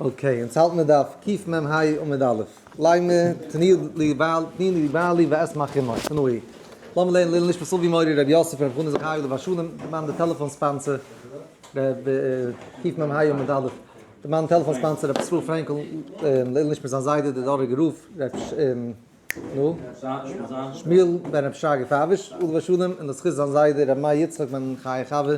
אקעי, אונז האלטן מיט דף ק מ ה עמוד א', לייען מיר תני לי בעלי ואשמח עמו, תנאי, לאמיר לערנען לעילא נשמת סבי מורי רבי יוסף ר' חנא זכרי' עליו השלום, די מאן די טעלעפאן ספאנסער, קיף מ ה עמוד א', די מאן טעלעפאן ספאנסער רבי ישראל פרענקל, לעילא נשמת זיין זיידע דער דאראגער רב ר' נו, שמואל בן רבי שרגא פייוויש עליו השלום און די זכות זיין זיידע רבי מאיר יצחק בן חיי חבר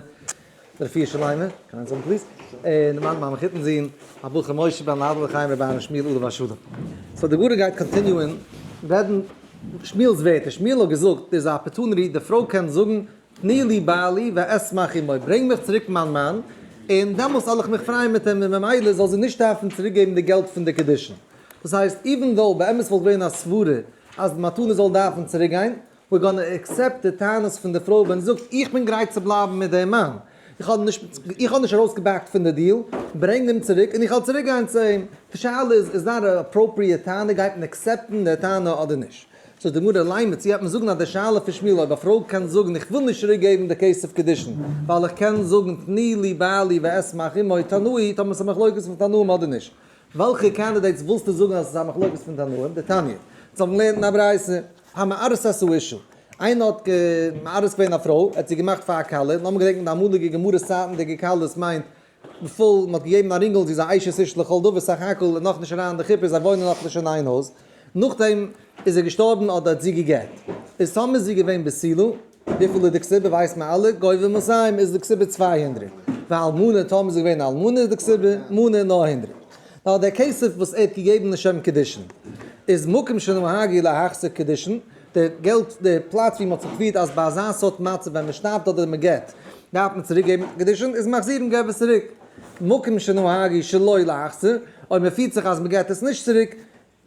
רפי שלמה, קען איינס האבן פליז? און מיין מאמע חיתן זון הבחור משה בן הרב ר' חיים ר' אהרן שמואל עליו השלום. סאו די גמרא גייט קאנטיניוען רעדן שמואל'ס ווערטער, שמואל האט געזאגט דער איז א אפערטוניטי, די פרוי קען זאגן תני לי בעלי ואשמח עמו, ברענג מיך צוריק מיין מאן און דעמאלס זאל איך מיך פרייען מיט אים און ממילא זאל זי נישט דארפן צוריק געבן די געלט פון די קידושין. דאס הייסט, איווען דאו באמת וואלט געווען א סברה אז די מתנה זאל דארפן צוריק גיין, ווער גאנע עקסעפט די טענות פון די פרוי ווען זי זאגט איך בין גרייט צו בלייבן מיט דעם מאן, איך האב איך האב נישט ארויס געבעקט פון די דיעל, ברענג אים צוריק און איך וועל צוריק גיין צו אים, די שאלה איז איז דאן א אפראפריעט טענה גייט מען עקסעפטן די טענה אדער נישט? זאגט די גמרא ליימער צו וועט מען זאגן אז די שאלה פון שמואל אויב א פרוי קען זאגן איך וויל נישט צוריק געבן די כסף קידושין ווייל איך קען זאגן תני לי בעלי ואשמח עמו תנאי טאמער עס א מחלוקת פון תנאים אדער נישט וועלכע קאנדידעיטס ווילסטו זאגן אז עס איז א מחלוקת פון תנאים דתניא? אונז האבן געלערנט אין א ברייתא א מערסא סאישא, איינער האט מערס געווען א פרוי, ער האט זי געמאכט פאר א כלה, און האבן געדענקט אין די אמאליגע גמרות צייטן די געקלות מיינט פול, מען האט געגעבן א רינגל זי איז א אשת איש לכל דבר, סך הכל איז נאכנישט אריין אין די חופה זיי וואוינען נאכנישט אין איין הויז, נאכדעם איז ער געשטארבן האט דארט זי געגערט. איז טאמער זי געווען בסילא, וויפיל איז די כסובה ווייסט מען אלע, גובה מסיים איז די כסובה צוויי הונדרעט, ואלמנה טאמער זי איז געווען א אלמנה איז די כסובה, מנה, נאר הונדרעט. נאר דער כסף וואס ער האט געגעבן לשם קידושין, איז מקום שנהגי להחזיר קידושין, די געלט די פלאץ ווי מ'האט זיך געפירט אז ביי אזא סארט מצב ווען מ'שטארבט אדער מ'גערט דארף מען צוריק געבן קידושין איז מחזירן געב עס צוריק. מקום שנהגי שלא להחזיר, אויב מ'פירט זיך אז מ'געט עס נישט צוריק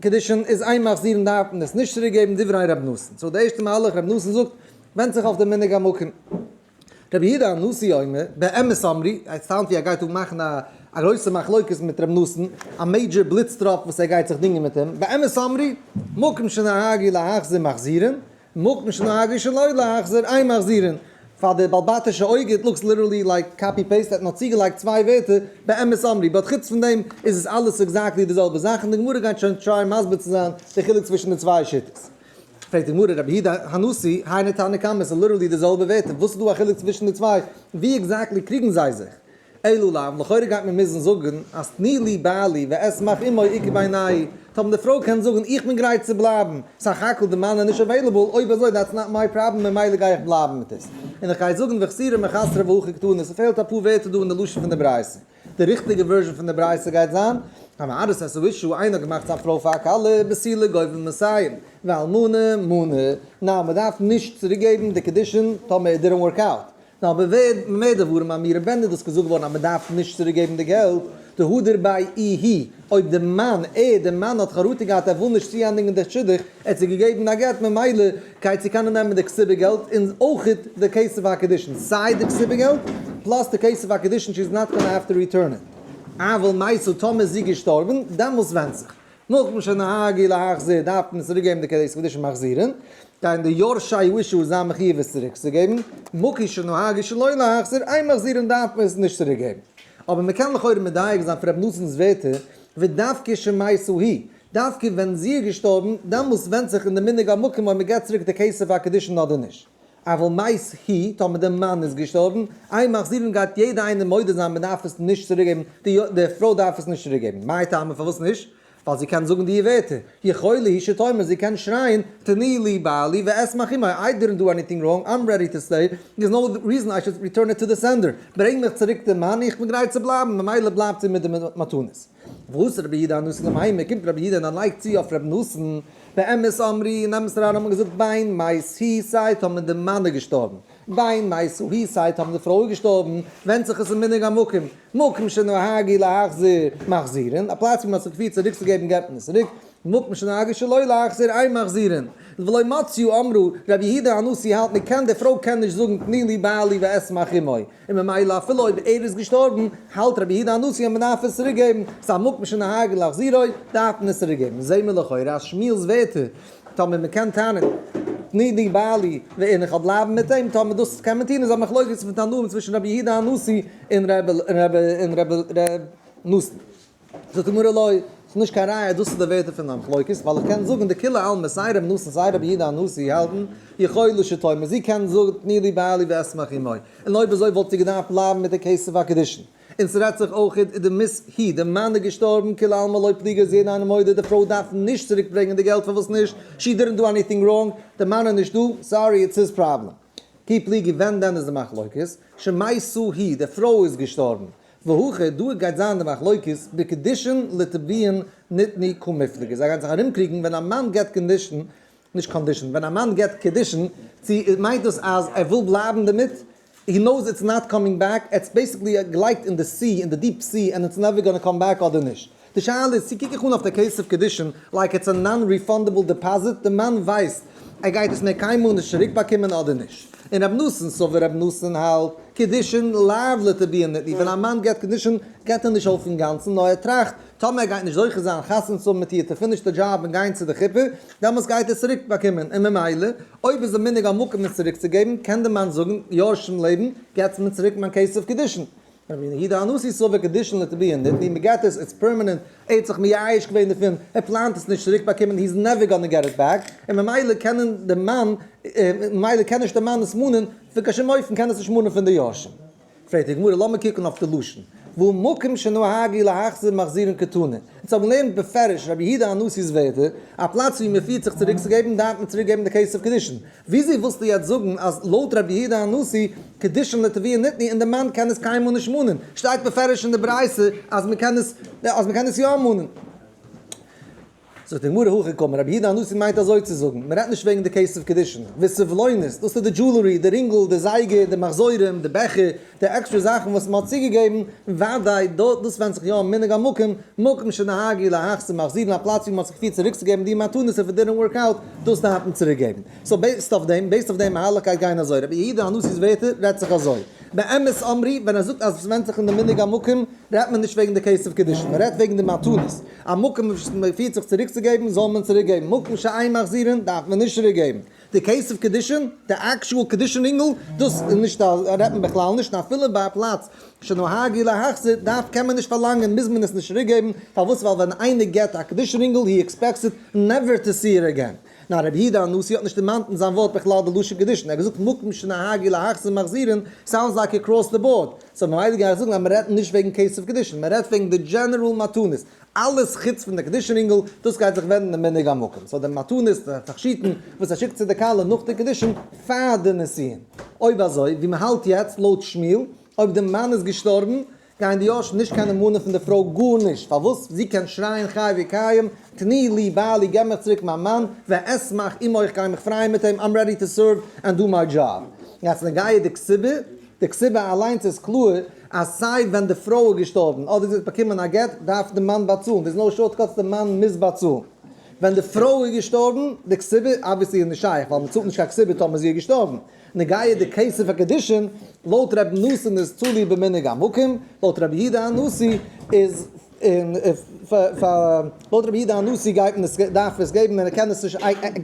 קידושין איז איין מחזיר און דארף מען עס נישט צוריק געבן דברי ר' נתן, סאו די ערשטע מהלך ר' נתן זאגט ווענדט זיך אויף די מנהג המקום. ר' יהודה הנשיא אומר באמת אמרי, עס סאונד ווי ער גייט אן מאכן א א גרויסע מחלוקת מיט ר' נתן, א מעידזשער בליץ טראפ וואס ער גייט זיך דינגען מיט אים, באמת אמרי, מקום שנהגו להחזיר מחזירין, מקום שלא היה ראשון לא להחזיר, איין מחזיר'ן פאר די בעל בתי'שע אויג, איט לוקס ליטערלי לייק קאפי פעיסט, ער האט נאר צוגעלייגט צוויי ווערטער, באמת אמרי, באט חוץ פון דעם איז עס אלעס עקזעקטלי די זעלבע זאך, און די גמרא גייט שוין טרייען מסביר צו זיין די חילוק צווישן די צוויי שיטות. פרעגט די גמרא רבי הידא הנשיא, היינו תנא קמא, ס'איז ליטערלי די זעלבע ווערטער, וואס איז דא א חילוק צווישן די צוויי, ווי עקזעקטלי קריגן זיי זיך? אלא לאו, לכאורה גייט מען מוזן זאגן אז תני לי בעלי ואשמח עמו עיקר בעיניי, טא ווען די פרוי קען זאגן איך בין גרייט צו בלייבן, סך הכל די מאן איז נישט עוועילעבל, אויב אזוי דעטס נאט מיי פראבלעם ממילא גיי איך בלייבן מיט עס, און איך גיי זאגן וחסירה מחסרה והכי קטנה, ס'פעלט אפאר ווערטער דא אין די לשון פון די ברייתא. די ריכטיגע ווערזשן פון די ברייתא גייט זיין. המאריך את אשתו, איינער האט געמאכט זיין פרוי פאר א כלה, בסילוק גובה מסיים, ואלמנה מנה, ניין מען דארף נישט צוריק געבן די קידושין טאמער איט דידענט ווארק אוט, נו אבער ווער מ'מער דברים האבן אירע בענדער דאס געזאגט געווארן אז מ'דארף נישט צוריק געבן די געלט, די הא דרבי אי הא, אויב די מאן, ער, די מאן האט חרטה געהאט ער וויל נישט צוענדיגן די שידוך, ער האט זי געגעבן א גט ממילא גייט זי קענען נעמען די כסובע געלט און אויך די כסף הקידושין, סיי די כסובע געלט פלאס די כסף הקידושין שי איז נאט גאנא העוו טו ריטורן איט. אבל מאי סא טאמער איז זי געשטארבן, דעמאלס ווענדט זיך. נאכדעם שנהגי להחזיר דארף מען צוריק געבן די קעדיטס כדי צו מחזיר'ן, גייען די יורשי יהושע זיין מחיוב עס צוריק צו געבן, מכח שנהגי שלא להחזיר איין מחזיר'ן דארף מען עס נישט צוריק געבן. אבער מען קען לכאורה מדייק זיין פון ר' נתן'ס ווערטער, ודווקא שמעשהו היא, דווקא ווען זי איז געשטארבן, דעמאלס ווענדט זיך אין די מנהג המקום אויב מען געבט צוריק די כסף הקדושין אדער נישט. אבל מאיז הי' טאמער די מאן איז געשטארבן, איי מחזירים גייט יעדע איינער מודה זיין מען דארף עס נישט צוריק געבן, די די פרוי דארף עס נישט צוריק געבן, מאי טעמא פארוואס נישט? ווייל זי קען זאגן דיע ווערטער, יכולה היא שתאמר זי קען שרייען, תני לי בעלי ואשמח עמו, איי דידנט דא עניטינג ראנג, איים רעדי טו סטעי, דער'ס נאו ריזען איי שוד ריטורן איט טו די סענדער, ברענג מיך צוריק די מאני איך בין גרייט צו בלייבן, ממילא בלייבט זי מיט די מתנות. ועושה רבי יהודה הנשיא למאי, מען קומט רבי יהודה און ער לייגט צו אויף רבי נתן, באמת אמרי, אין אמת רעדן האט מען געזאגט דיין מייז הי סייט האבן די מענער געשטארבן, דיין מייז הי סייט האבן די פרויען געשטארבן, ווענדט זיך עס אין מנהג המקום, מקום שנהגי להחזיר, מחזירין, א פלאץ ווי מען האט זיך געפירט צוריקצוגעבן געבט מען עס צוריק, מקום שנהגי שלא להחזיר אין מחזירין, ולא מצאו אמרו, רבי יהודה הנשיא האלט מען קען די פרוי קען נישט זאגן תני לי בעלי ואשמח עמו, און ממילא אפילו אויב ער איז געשטארבן האלט רבי יהודה הנשיא אז מען דארף עס צוריק געבן, ס'איז א מקום שנהג להחזירו, דארף מען עס צוריק געבן, זעהן מיר לכאורה אז שמואל'ס ווערטער, טאמער מען קען טענה'ן תני לי בעלי ואין איך האב בלייבן מיט אים, טאמער דאס קען מען טון איז א מחלוקת פון תנאים צווישן רבי יהודה הנשיא און רבי נתן. זאגט די גמרא לא, ס'איז נישט קיין ראיה אז דאס איז די ווערטער פון די מחלוקת, ווייל איך קען זאגן די כולי עלמא סיי רבי נתן סיי רבי יהודה הנשיא האלטן יכולו לשיטתם אז זי קען זאגן תני לי בעלי ואשמח עמו, און אויב אזוי וואלט זי געדארפט בלייבן מיט די כסף הקידושין. און ס'רעדט זיך אויך איז די מיס הי, די מאן איז געשטארבן כולי עלמא לא פליגי אז יעדער איינער מודה די פרוי דארף נישט צוריק ברענגען די געלט פארוואס נישט, שי דידנט דא עניטינג ראנג, די מאן איז נישט דא, סארי איטס היז פראבלעם. כי פליגי ווען דען איז די מחלוקת? שמאי סא הי, די פרוי איז געשטארבן, והוכע, דא גייט זיין די מחלוקת בקדישין לטביעין נתני קא מפלגה, זיי גייען זיך ארומקריגן ווען א מאן געבט קאנדישן, נישט קאנדישן, ווען א מאן געבט קידושין, צו מיינט דאס אז ער וויל בלייבן דערמיט, הי נאוס איטס נאט קאמינג בעק, עטס בעסיקלי געלייגט אין די סי, אין די דיעפ סי, ענד איטס נעווער גאנא קאם בעק אדער נישט. די שאלה איז צו קוק איך אן אויף די כסף קדישין לייק איטס א נאן ריפאנדעבל דעפאזיט, די מאן ווייסט ער גייט עס מער קיינמאל נישט צוריק באקומען אדער נישט, און רבי נתן סאו ווי רבי נתן האלט, קדישין לאו לטביע נתני, ווען א מאן געט קדישין געט ער נישט אויף אינגאנצן נאר ער טראכט טאמער ער גייט נישט זוכה זיין חתונה צו האבן מיט איר טו פיניש די דזשאב און גיין צו די חופה דעמאלטס גייט ער עס צוריק באקומען און ממילא אויב איז די מנהג א מקום עס צוריק צו געבן קען די מאן זאגן יורשים לעבן געטס מיר צוריק מיין כסף קדישין ווי נגיד א נשיא סובר קדישין לטביהן ניט ווי מ'געט עס, איז פערמענענט ער האט זיך מייאש געווען דערפון, ער פלאנט עס נישט צוריק באקומען, הי'ז נעווער גאנע געט איט בעק, און ממילא קענען די מאן, ממילא קען נישט די מאן עס מאנען, פון קיין שום אופן קען עס נישט מאנען פון די יורשים. פרעגט די גמרא, לאמיר קוקן אויף די לשון, והוא מקום שנהגי להחזיר מחזירין כתנא, אונז האבן געלערנט בפירוש רבי יהודה הנשיא'ס ווערטער, א פלאץ ווי מ'פירט זיך צוריקצוגעבן דארף מען צוריקגעבן די כסף קדישין, וויאזוי ווילסטו יעצט זאגן אז לויט רבי יהודה הנשיא קדישין לטביה ניתני און די מאן קען עס קיינמאל נישט מאנען, שטייט בפירוש אין די ברייתא אז מען קען עס אז מען קען עס יא מאנען. זאגט די גמרא הכי קמא, רבי יהודה הנשיא מיינט אזוי צו זאגן, מען רעדט נישט וועגן די כסף קדישין, וויסעוולוינעס, דאס איז די דזשולערי, די רינגל, די זייגער, די מחזורים, די בעכער, די עקסטרע זאכן וואס מען האט צוגעגעבן, וודאי דא דאס ווענדט זיך יא און מנהג המקום, מקום שנהגי להכ צו מחזירן א פלאץ ווי מען האט זיך געפירט צוריקצוגעבן די מתנות איף איט דידענט ווארק אוט, דאס דארף מען צוריקגעבן. סאו בעיסד אויף דעם, בעיסד אויף דעם מהלך גייט גיין אזוי, רבי יהודה הנשיא'ס ווערטער רעדט זיך אזוי, באמת אמרי, ווען ער זאגט אז עס ווענדט זיך אין די מנהג המקום, רעדט מען נישט וועגן די כסף קידושין, מען רעדט וועגן די מתנות, א מקום וואס מען פירט זיך צוריקצוגעבן זאל מען צוריקגעבן, מקום שאין מחזירין דארף מען נישט צוריקגעבן. די קעיס אוו קעדישען, די אקטשועל קעדישען אינגל, דאס איז נישט א, רעדט מען בכלל נישט, און אפילו ביי א פלאץ שנהג אי להחזיר, דארף, קען מען נישט פארלאנגען, מוז מען עס נישט צוריק געבן, פארוואס, ווייל ווען איינער געט א קעדישען אינגל, הי עקספעקסד נעווער טו סי איט עגעין, ניין רבי יהודה הנשיא האט נישט דערמאנט אין זיין ווארט בכלל די לשון קעדישען, ער האט געזאגט מקום שנהג אי להחזיר מחזירין, סאונדס לייקע אקראס די באורד, סאו ממילא גיי איך זאגן אז מען רעדט נישט וועגן קעיס אוו קעדישען, מען רעדט וועגן די דזשענערעל מתנות, אלעס חוץ פון די קידושין רינגל, דאס גייט זיך ווענדן די מנהג המקום, סאו די מתנות, די תכשיטן, וואס ער שיקט צו די כלה נאך די קידושין פאר די נישואין. אויב אזוי, ווי מען האלט יעצט לויט שמואל, אויב די מאן איז געשטארבן, גייען די יורשים נישט קיינעם מאנען פון די פרוי גארנישט, פארוואס? זי קען שרייען חי וקיים, תני לי בעלי, געב מיך צוריק מיין מאן, ואשמח עמו, איך גיי מיך פרייען מיט אים, איים רעדי טו סערוו ענד דו מיי דזשאב. יעצט לגייעדיג סיבה. די קציבה אליינס איז קלאר אז סיי ווען די פרוי איז געשטארבן אדער זי האט באקומען א גט דארף די מאן באצאלן, דער איז נאו שארט קאטס די מאן מוז באצאלן ווען די פרוי איז געשטארבן, די קציבה אבוויעסלי איז נישט שייך ווייל מען צאלט נישט קיין קציבה טאמער זי איז געשטארבן, נגעיע די כסף הקידושין לויט רבי נתן איז תלוי במנהג המקום, לויט רבי יהודה הנשיא איז. און לויט רבי יהודה הנשיא גייט מען עס דארף מען עס געבן און ער קען עס נישט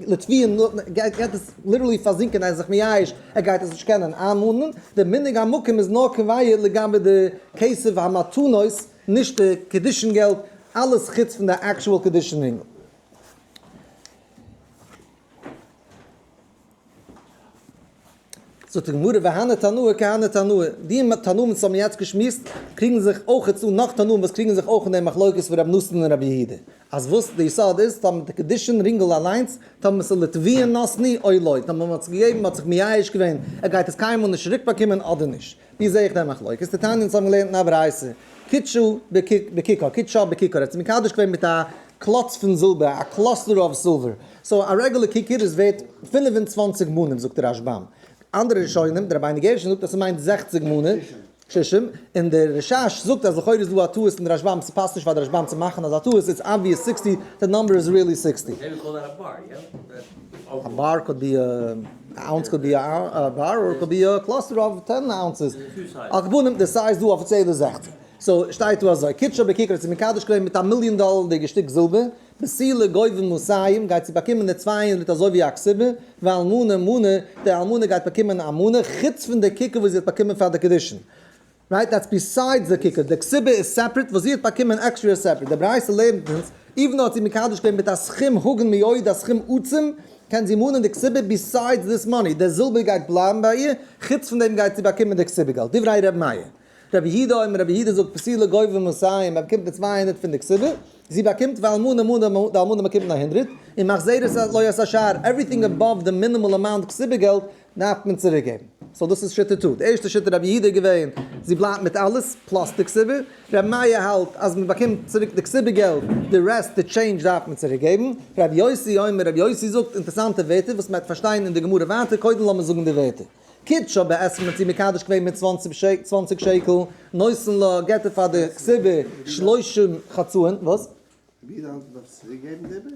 לטביה'ן גייט עס ליטערלי פארזינקען ער איז זיך מייאש ער גייט עס נישט קענען איינמאנען, די מנהג המקום איז נאר קביעה לגבי די כסף המתנות נישט די קדישין געלט אלעס חוץ פון די עקטשועל קדישין אינגל. זאגט די גמרא והנה תנאה כהנה תנאה, די תנאים וואס האבן יעצט געשמועסט קריגן זיך אויך צו נאך תנאים וואס קריגן זיך אויך אין די מחלוקת פון רבי נתן און רבי יהודה, אז וואס די יסוד איז טאמער די קדישין רינגל אליינס טאמער עס איז לטביעה נתני אוי לא, טאמער מען האט עס געגעבן מען האט זיך מייאש געווען ער גייט עס קיינמאל נישט צוריק באקומען אדער נישט. ווי זעה איך דער מחלוקת? די תניא אונז האבן געלערנט אין א ברייתא, קידשא בכיכר, קידשא בכיכר, ער האט זיך מקדש געווען מיט א קלאץ פון זילבער, א קלאסטער אוו סילווער, סאו א רעגולער כיכר איז ווערט פֿינף און צוואַנציק מנים זאגט דער רשב ם, אנדערע ראשונים, דער רבינו גרשון זאגט אז ס'מיינט זעכציק מנים, שישים, און דער רשש זאגט אז לכאורה איז דא א טעות אין די רשב ם, ס'פאסט נישט פאר די רשב ם צו מאכן אזא טעות, איטס אבוויעס סיקסטי, די נאמבער איז ריעלי סיקסטי. א אונס קען בי א באר אדער קען בי א קלאסטער אוו טען אונסעס, על כל פנים די סייז דא אפיציעל איז זעכצן, סאו שטייט דא אזוי, קידשא בקיקער האט זיך מקדש געווען מיט א מיליאן דאלערדיגע שטיק זילבער, מסילה גובים מסיים גייט זי באקומען די צוויי הונדרעט אזוי ווי א כסבה, ואלמנה מנה, די אלמנה גייט באקומען א מנה, חוץ פון די קיקער וואס זי האט באקומען פאר די קידושין. רייט דעטס ביסיידס די קוקער, די קציבה איז סעפרעט וואס זי האט באקומען עקסטרע איז סעפרעט, די ברייתא לערנט אונז איווען דאו האט זי מקדש געווען מיט א סכום הגון מאוד א סכום עצום קען זי מאנען די קציבה ביסיידס דיס מאני די זילבער גייט בלייבן ביי איר חוץ פון דעם גייט זי באקומען די קציבה געלט דברי ר' מאיר רבי יהודה אומר רבי יהודה זאגט פסילה גובה מסיים ער באקומט די צוויי הונדערט פון די קציבה זי באקומט ואלמנה מנה די אלמנה באקומט נאר הונדרעט און מחזיר את הלוי' את השאר עווריטינג אבאוו די מינימאל אמאונט קציבה געלט דארף מען צוריק געבן. סאו דאס איז שיטת טו. די ערשטע שיטה רבי יהודה איז געווען זי בלייבט מיט אלעס פלאס די כסובה. רבי מאיר האלט אז מען באקומט צוריק די כסובה געלט, די רעסט די טשעינדזש דארף מען צוריק געבן. רבי יוסי אומר רבי יוסי זאגט אינטערסאנטע ווערטער וואס מען וועט פארשטיין אין די גמרא ווייטער, קודם לאמיר זאגן די ווערטער. קידשא בעצמו מען האט אים מקדש געווען מיט צוואנציג שקל, נותן לה געט ער פאר די כסובה שלושים חצאים, וואס? ווי לאנג דארף צוריק געבן די איבריג?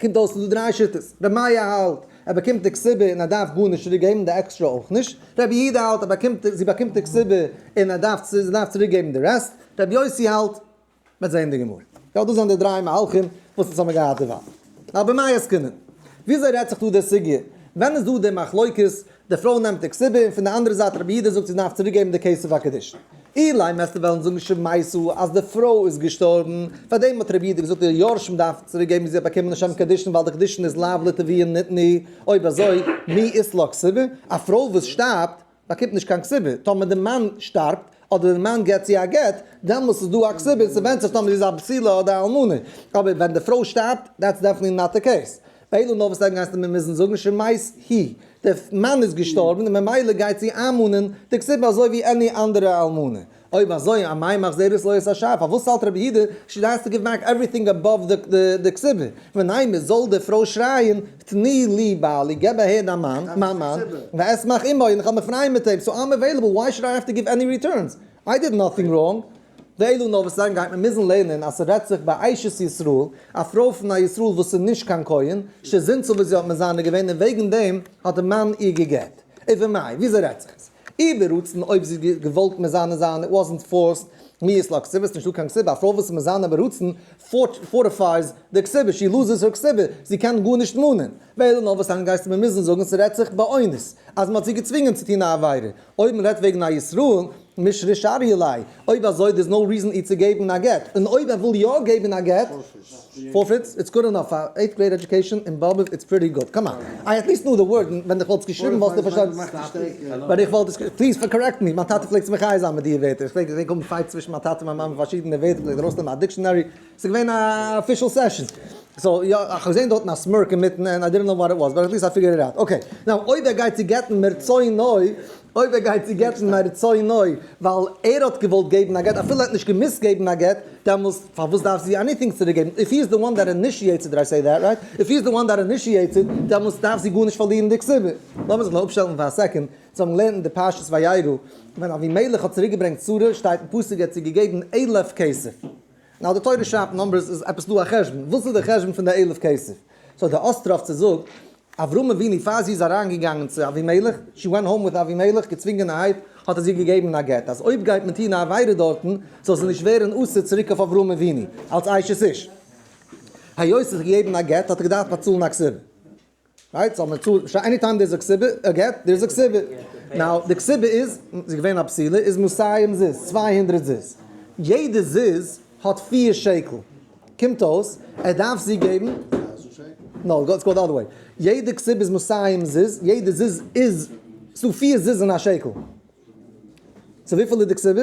קומט אויס ס'דא דריי שיטות, ר' מאיר האלט ער באקומט די כסבה און ער דארף גארנישט צוריק געבן די עקסטרע אויך נישט, ר' יהודה האלט ער באקומט זי באקומט די כסבה און ער דארף זי דארף צוריק געבן די רעסט, ר' יוסי האלט מ'וועט זעהן אין די גמרא. יא דאס זענען די דריי מהלכים וואס אונז האבן געהאט דערווייל. אבער מאי עסקינן? וויאזוי רעדט זיך דא די סוגיא? ווען איז דא די מחלוקת די פרוי נעמט די קציבה און פון די אנדערע זייט רבי יהודה זאגט זי דארף צוריק געבן די כסף הקידושין. אילאי מעסטו וועלן זאגן שמעיסו אז די פרוי איז געשטארבן, פאר דעם האט רבי יהודה געזאגט די יורשים דארף צוריק געבן וואס זי האט באקומען לשם קידושין ווייל די קידושין איז לאו לטבי און נתני, אויב אזוי מי ית לה קציבה? א פרוי וואס שטארבט באקומט נישט קיין קציבה, טאמער די מאן שטארבט אדער די מאן געט צו א גט דעמאלס איז דא א קציבה, ס'ווענדט זיך טאמער זי איז א בסילה אדער אלמנה, אבער ווען די פרוי שטארבט דעטס דעפענטלי נאט די קעיס. אילו נאר וואס עלגן הייסט מיר מוזן זאגן שמעיס הי, די מאן איז געשטארבן און ממילא גייט זי איינמאנען די כסופה אזוי ווי עני אנדערע אלמנה, אויב אזוי א מאי מחזרת לויית השער, פארוואס האלט רבי יהודה שי דאס טו גיוו בעק עווריטינג אבאוו די כסובה, ונהיימער זאל די פרוי שרייען תני לי בעלי, געב אהער דיין מאן, מיין מאן, ואשמח עמו, און איך וועל מיך פרייען מיט אים, סאו איים עוועילעבל, וויי שוד איי האוו טו גיוו עני ריטורנס, איי דיד נאטינג ראנג, די אלו נאר וואס זיין גייט מען מוזן לערנען אז ס'רעדט זיך ביי אשת ישראל, א פרוי פון א ישראל וואס איז נישט קיין כהן, ש זינט צו וואס זי האט מזנה געווען און וועגן דעם האט דער מאן איר גע'גט. און פון מאי, וויאזוי רעדט זיך עס? איר ברצון אויב זי האט געוואלט מזנה זיין, איט וואזנט פארסט, מיאוס לא כסיבה, עס איז נישטא קיין כסיבה, א פרוי וואס איז מזנה ברצון פארטיפייס די כסיבה, שי לוזעס הער כסיבה, זי קען גארנישט מאנען. די אלו נאר וואס זיין גייסט מען מוזן זאגן ס'רעדט זיך באונס אז מ'האט זי געצווינגען צו טון א עבירה, אויב מען רעדט וועגן א ישראל מש' רישא ריעליי, אויב אזוי דער'ס נאו ריזען אי צו געבן א גט, און אויב ער וויל יא געבן א גט, פארפיטס, איטס גוד אינאף, פאר עיט גרעיד עדיוקעישאן אין באבוב איטס פריטי גוד, קאם אן, איי עטליסט נאו די ווארד, און ווען דיך וואלסט געשריבן וואלסטו פארשטאנען, ווען איך וואלט עס, פליז קארעקט מי, מיין טאטע פלעגט זיך מחיה זיין מיט די ווערטער, איך פלעג געזען קומען פייטס צווישן מיין טאטע און מיין מאמע פארשידענע ווערטער, פלעגט ארויסנעמען א דיקשאנערי. ס'איז געווען א אפישעל סעשאן. סאו יא, איך האב געזען דארטן א סמירק אינמיטן ענד איי דידענט נאו וואט איט וואס, באט עטליסט איי פיגערד איט אוט. אקעי, נאו אויב ער גייט צו גט'ן מרצונו, אויב ער גייט צו גט'ן מרצונו ווייל ער האט געוואלט געבן א גט, אפילו ער האט נישט געמוזט געבן א גט, דעמאלס פארוואס דארף זי עניטינג צוריק געבן? איף הי איז די וואן דעט אינישיעטס איט, דיד איי סעי דעט רייט? איף הי איז די וואן דעט אינישיעטס איט, דעמאלס דארף זי גארנישט פארלירן די כסדר. לאמיר זיך נאר אפשטעלן פאר א סעקאנד צו האבן געלערנט אין די פרשת וירא ווען אבימלך האט צוריק געברענגט שרה, שטייט אין פסוק ער האט צו געגעבן עלף כסף. נאר די תורה שרייבט נומבערס איז עפעס דא א חשבון, וואס איז די חשבון פון די אלף כסף? סאו די אסטראפצע זאגט, אברהם אבינו פאר זי איז אריין געגאנגען צו אבימלך, שי ווענט האום וויט אבימלך, געצווינגענערהייט האט ער זי געגעבן א גט, אז אויב גייט מען טון א עבירה דארטן, זאל זי נישט ווערן אסור צוריק אויף אברהם אבינו, אלס אשת איש. היות זיך געגעבן א גט האט ער געדארפט באצאלן א כסף. רייט סאו מען צאלט נישט עני טיים דער זאגט סיבה ער געט דער זאגט סיבה נאו די סיבה איז זי איז געווען א פסילה איז מסיים זיז צוויי הונדרעט זיז יעדע זיז האט פיר שקל קומט אויס ער דארף זי געבן נאו גאטס גאט אדערוועי יעדע סיבה איז מסיים זיז יעדע זיז איז סאו פיר זיז זענען א שקל סאו וויפיל איז די סיבה?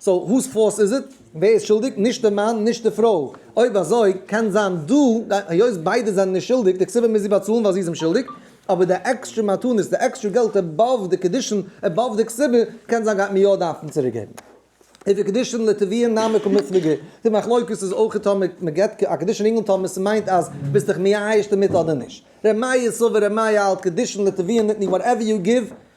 סאו הוז פאלט איז איט? ווער איז שולדיג? נישט די מאן נישט די פרוי? אויב אזוי קען זיין דו היות ביידע זענען נישט שולדיג די כסובה מוז זי באצאלן ווייל זי איז אים שולדיג אבער די עקסטרע מתנות די עקסטרע געלט עבאוו די קידושין עבאוו די כסובה קען זיין גייט מען יא דארפן צוריק געבן איז די קידושין לטביון נמי כמפלגה איז די מחלוקת איז אויך טאמער מען געבט א קידושין אינגל טאמער ס'מיינט אז ביסט דיך מייאש דערמיט אדער נישט ר' מאיר סובר ר' מאיר האלט קידושין לטביון ניתני וואטעווער יו גיוו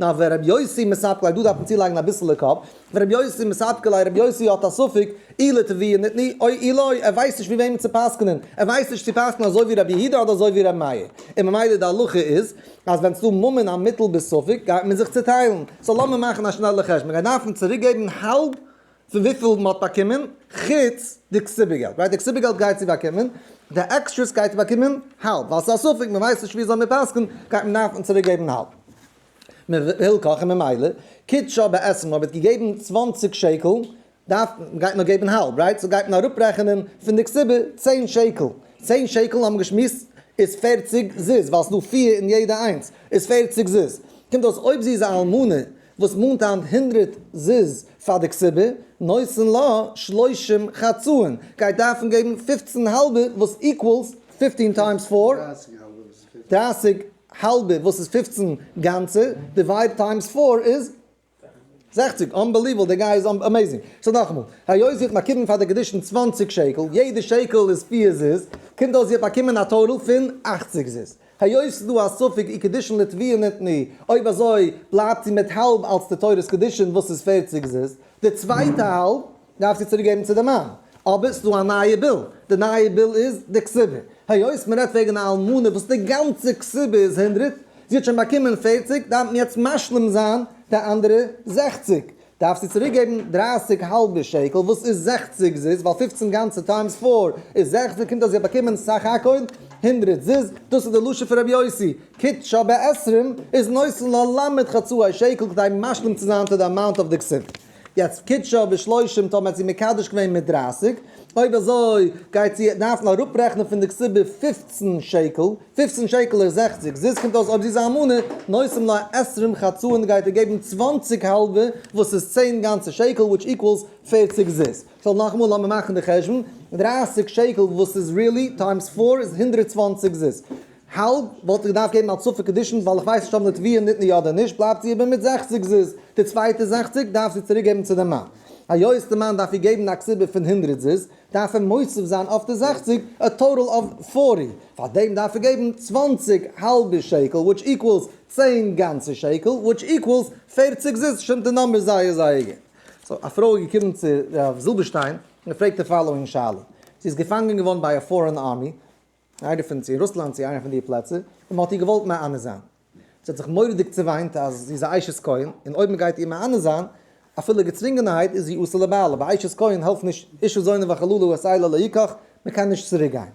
נאר ווען רבי יוסי מספקלאי דא דארף מען צולייגן אביסעלע קאפ, ווען רבי יוסי מספקלאי רבי יוסי האט א ספק אילו תביעה און ניתני אוי אילוי, ער ווייסט נישט ווי וועמען צו פסק'נען, ער ווייסט נישט צו פסק'נען אזוי ווי רבי יהודה אדער אזוי ווי רבי מאיר, און ממילא די הלכה איז אז ווען ס'דא ממון א מיטל בספק גייט מען זיך צוטיילן, סאו לאמיר מאכן א שנעלע חשבון, מ'גייט דארפן צוריק געבן האלב פון וויפיל מען האט באקומען חוץ די קצבה געלט, ווייל די קצבה געלט גייט צו באקומען, די עקסטרעס גייט באקומען האלב, ווייל ס'איז א ספק מען ווייסט נישט ווי אזוי מען פסק'נט גייט מען דארפן צוריק געבן האלב מילקח, און ממילא קידשא בעצם אויב ער האט געגעבן צוואַנציק שקל דארף גייט נאר געבן האלב רייט, סאו גייט מען אראפ רעכענען פון די קצבה צען שקל, צען שקל האבן מיר געשמועסט איז פערציג זוז, ווייל ס'איז דא פיר אין יעדע איינס איז פערציג זוז, קומט אויס אויב זי איז א אלמנה. וואס מאנט היינט הונדרעט זוז פאר די כסבה, נושאין לה שלושים חצאין, גייט דארפן געבן פופצן האלבע וואס איקוועלס פיפטין טיימס פאר, דרייסיג האלבע וואס איז פופצן גאנצע, דיווייד טיימס פאר איז זעכציג, אנבעליוועל די גאי איז אמעיזינג. סאו נאכאמאל, היות זי האט באקומען פאר די קדושין צוואנציג שקל, יעדע שקל איז פיר זוז, קומט אויס זי האט באקומען א טאטאל פון אכציג זוז. היות ס'איז דא א ספק אי קידושין לטבילה נתני, אויב אזוי בלייבט זי מיט האלב אלס די תורת קידושין וואס איז פערציג זוז, די צווייטע האלב דארף זי צוריק געבן צו די מאן. אבער ס'איז דא א נייע ביל, די נייע ביל איז די כסובה, היות מ'רעדט וועגן א אלמנה וואס די גאנצע כסובה איז הונדרעט, זי האט שוין באקומען פערציג, דארף מען יעצט משלים זיין די אנדערע זעכציג. דארפסטו צוריק געבן דרייסיג האלבע שקל וואס איז זעכציג זוז ווייל פופצן גאנצע טיימס פאר איז זעכציג קומט אויס זי האט באקומען סך הכל הונדרעט זוז דאס איז די לשון פון רבי יוסי קוטשא בעשרים איז נושא ללמד חצאי שקל כדי משלים צו זיין טו די אמאונט אויף די כספת יעצט קוטשא בשלושים טאמער האט זי מקדש געווען מיט דרייסיג אויב אזוי גייט זי דארפן אראפרעכנען פון די כסבה פופצן שקל פֿופֿצן שקל איז זעכציק זוז קומט אויס אויב זי איז א אלמנה נושאים לה עשרים חצאין גייט ער געבן צוואַנציק האלבע וואס איז צען גאנצע שקל וויטש איקוועלס פֿערציק זוז סאו נאכאמאל לאמיר מאכן די חשבון דרײַסיק שקל וואס איז ריעלי טיימס פֿאָר איז הונדרעט צוואַנציק זוז האלב וואלט איך געדארפט געבן א צופה קדישין ווייל איך ווייס נישט אויב נתביה ניתנה יא אדער נישט בלייבט זי איבער מיט זעכציק זוז די צווייטע זעכציק דארף זי צוריק געבן צו די מאן היות די מאן דארף איר געבן א קציבה פון הונדרעט זוז דארף ער מוסיף זיין אויף די זעכציג א טאטעל אוו פארטי, פאר דעם דארף ער געבן צוואנציג האלבע שקל וויטש איקוועלס צען גאנצע שקל וויטש איקוועלס פערציג זיס, שטימט די נומבערס זייער זייער גוט. סאו א פרוי איז געקומען צו רב זילבערשטיין און געפרעגט די פאלאואינג שאלה, זי איז געפאנגען געווארן ביי א פארען ארמי, איינע פון צו אין רוסלאנד צו איינע פון די פלעצער, און מען האט איר געוואלט מענה זיין. זי האט זיך מורא'דיג צעוויינט אז זי איז א אשת כהן, און אויב מען גייט איר מענה זיין, אפילו געצווינגענערהייט, איז זי עושה לבעלה, ביי אשת כהן העלפט נישט אישה זונה וחללה הוא עשי לה לא יקח, מען קען נישט צוריק גיין.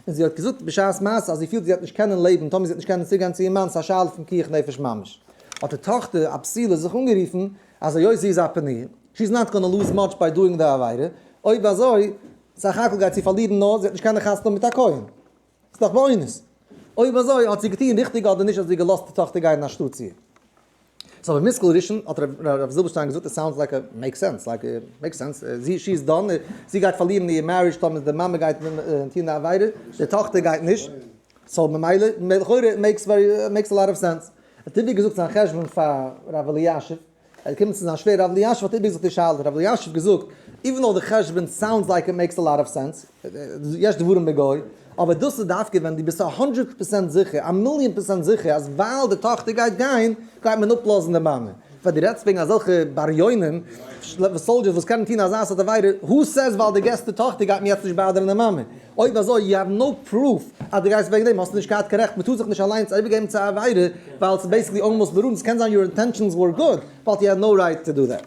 און זי האט געזאגט בשעת מעשה אז זי פילט זי וועט נישט קענען לעבן טאמער זי וועט נישט קענען צוריק גיין צו איר מאן, ס'איז א שאלה פון פיקוח נפש ממש. האט די טאכטער א פסילה זיך אנגערופן אז היות זי איז א פניה, שי איז נאט גאנא לוז מאטש ביי דואינג די עבירה, אויב אזוי סך הכל גייט זי פארלירן נאר זי האט נישט קיינע חתונה מיט א כהן. ס'איז דאך באונס. אויב אזוי האט זי געטון ריכטיג אדער נישט אז זי געלאזט די טאכטער גיין אין א שטאט צו. סאו א מושכל ראשון האט רב זילבערשטיין געזאגט איט סאונדס לייק מעיק סענס לייק מעיק סענס זי איז דאן זי גייט פארלירן איר מערידזש טאמער די מאמע גייט טון די עבירה די טאכטער גייט נישט סאו ממילא לכאורה מעיק מעיק א לאט אוו סענס. ער האט איבערגעזאגט זיין חשבון פאר רב אלישיב. ער איז געקומען צו זיין שווער ר' אלישיב האט איבערגעזאגט די שאלה, ר' אלישיב האט געזאגט, איווען דאו די חשבון סאונדס לייק איט מעיקס א לאט אוו סענס, יש דברים בגוי, אבער דאס איז דווקא ווען דו ביסט א הונדרעט פראצענט זיכער, א מיליאן פראצענט זיכער אז ווייל די טאכטער גייט גיין, גייט מען אפלאזן די מאמע. פאר דו רעדסט וועגן אזעלכע בריונים, סאלדזשערס וואס קענען טון אזא סארט עבירה, הו סעיז ווייל דו געסט די טאכטער גייט מען יעצט נישט באדערן די מאמע? אויב אזוי יו האוו נאו פרוף אז דו גייסט וועגן דעם, האסטו נישט געהאט קיין רעכט, מ'טאר זיך נישט אליינס איבערגעבן צו א עבירה ווייל ס'איז בעיסיקלי אלמאסט ברור, עס קען זיין יור אינטענשאנס ווער גוד, באט יו האד נאו רייט טו דא דעט.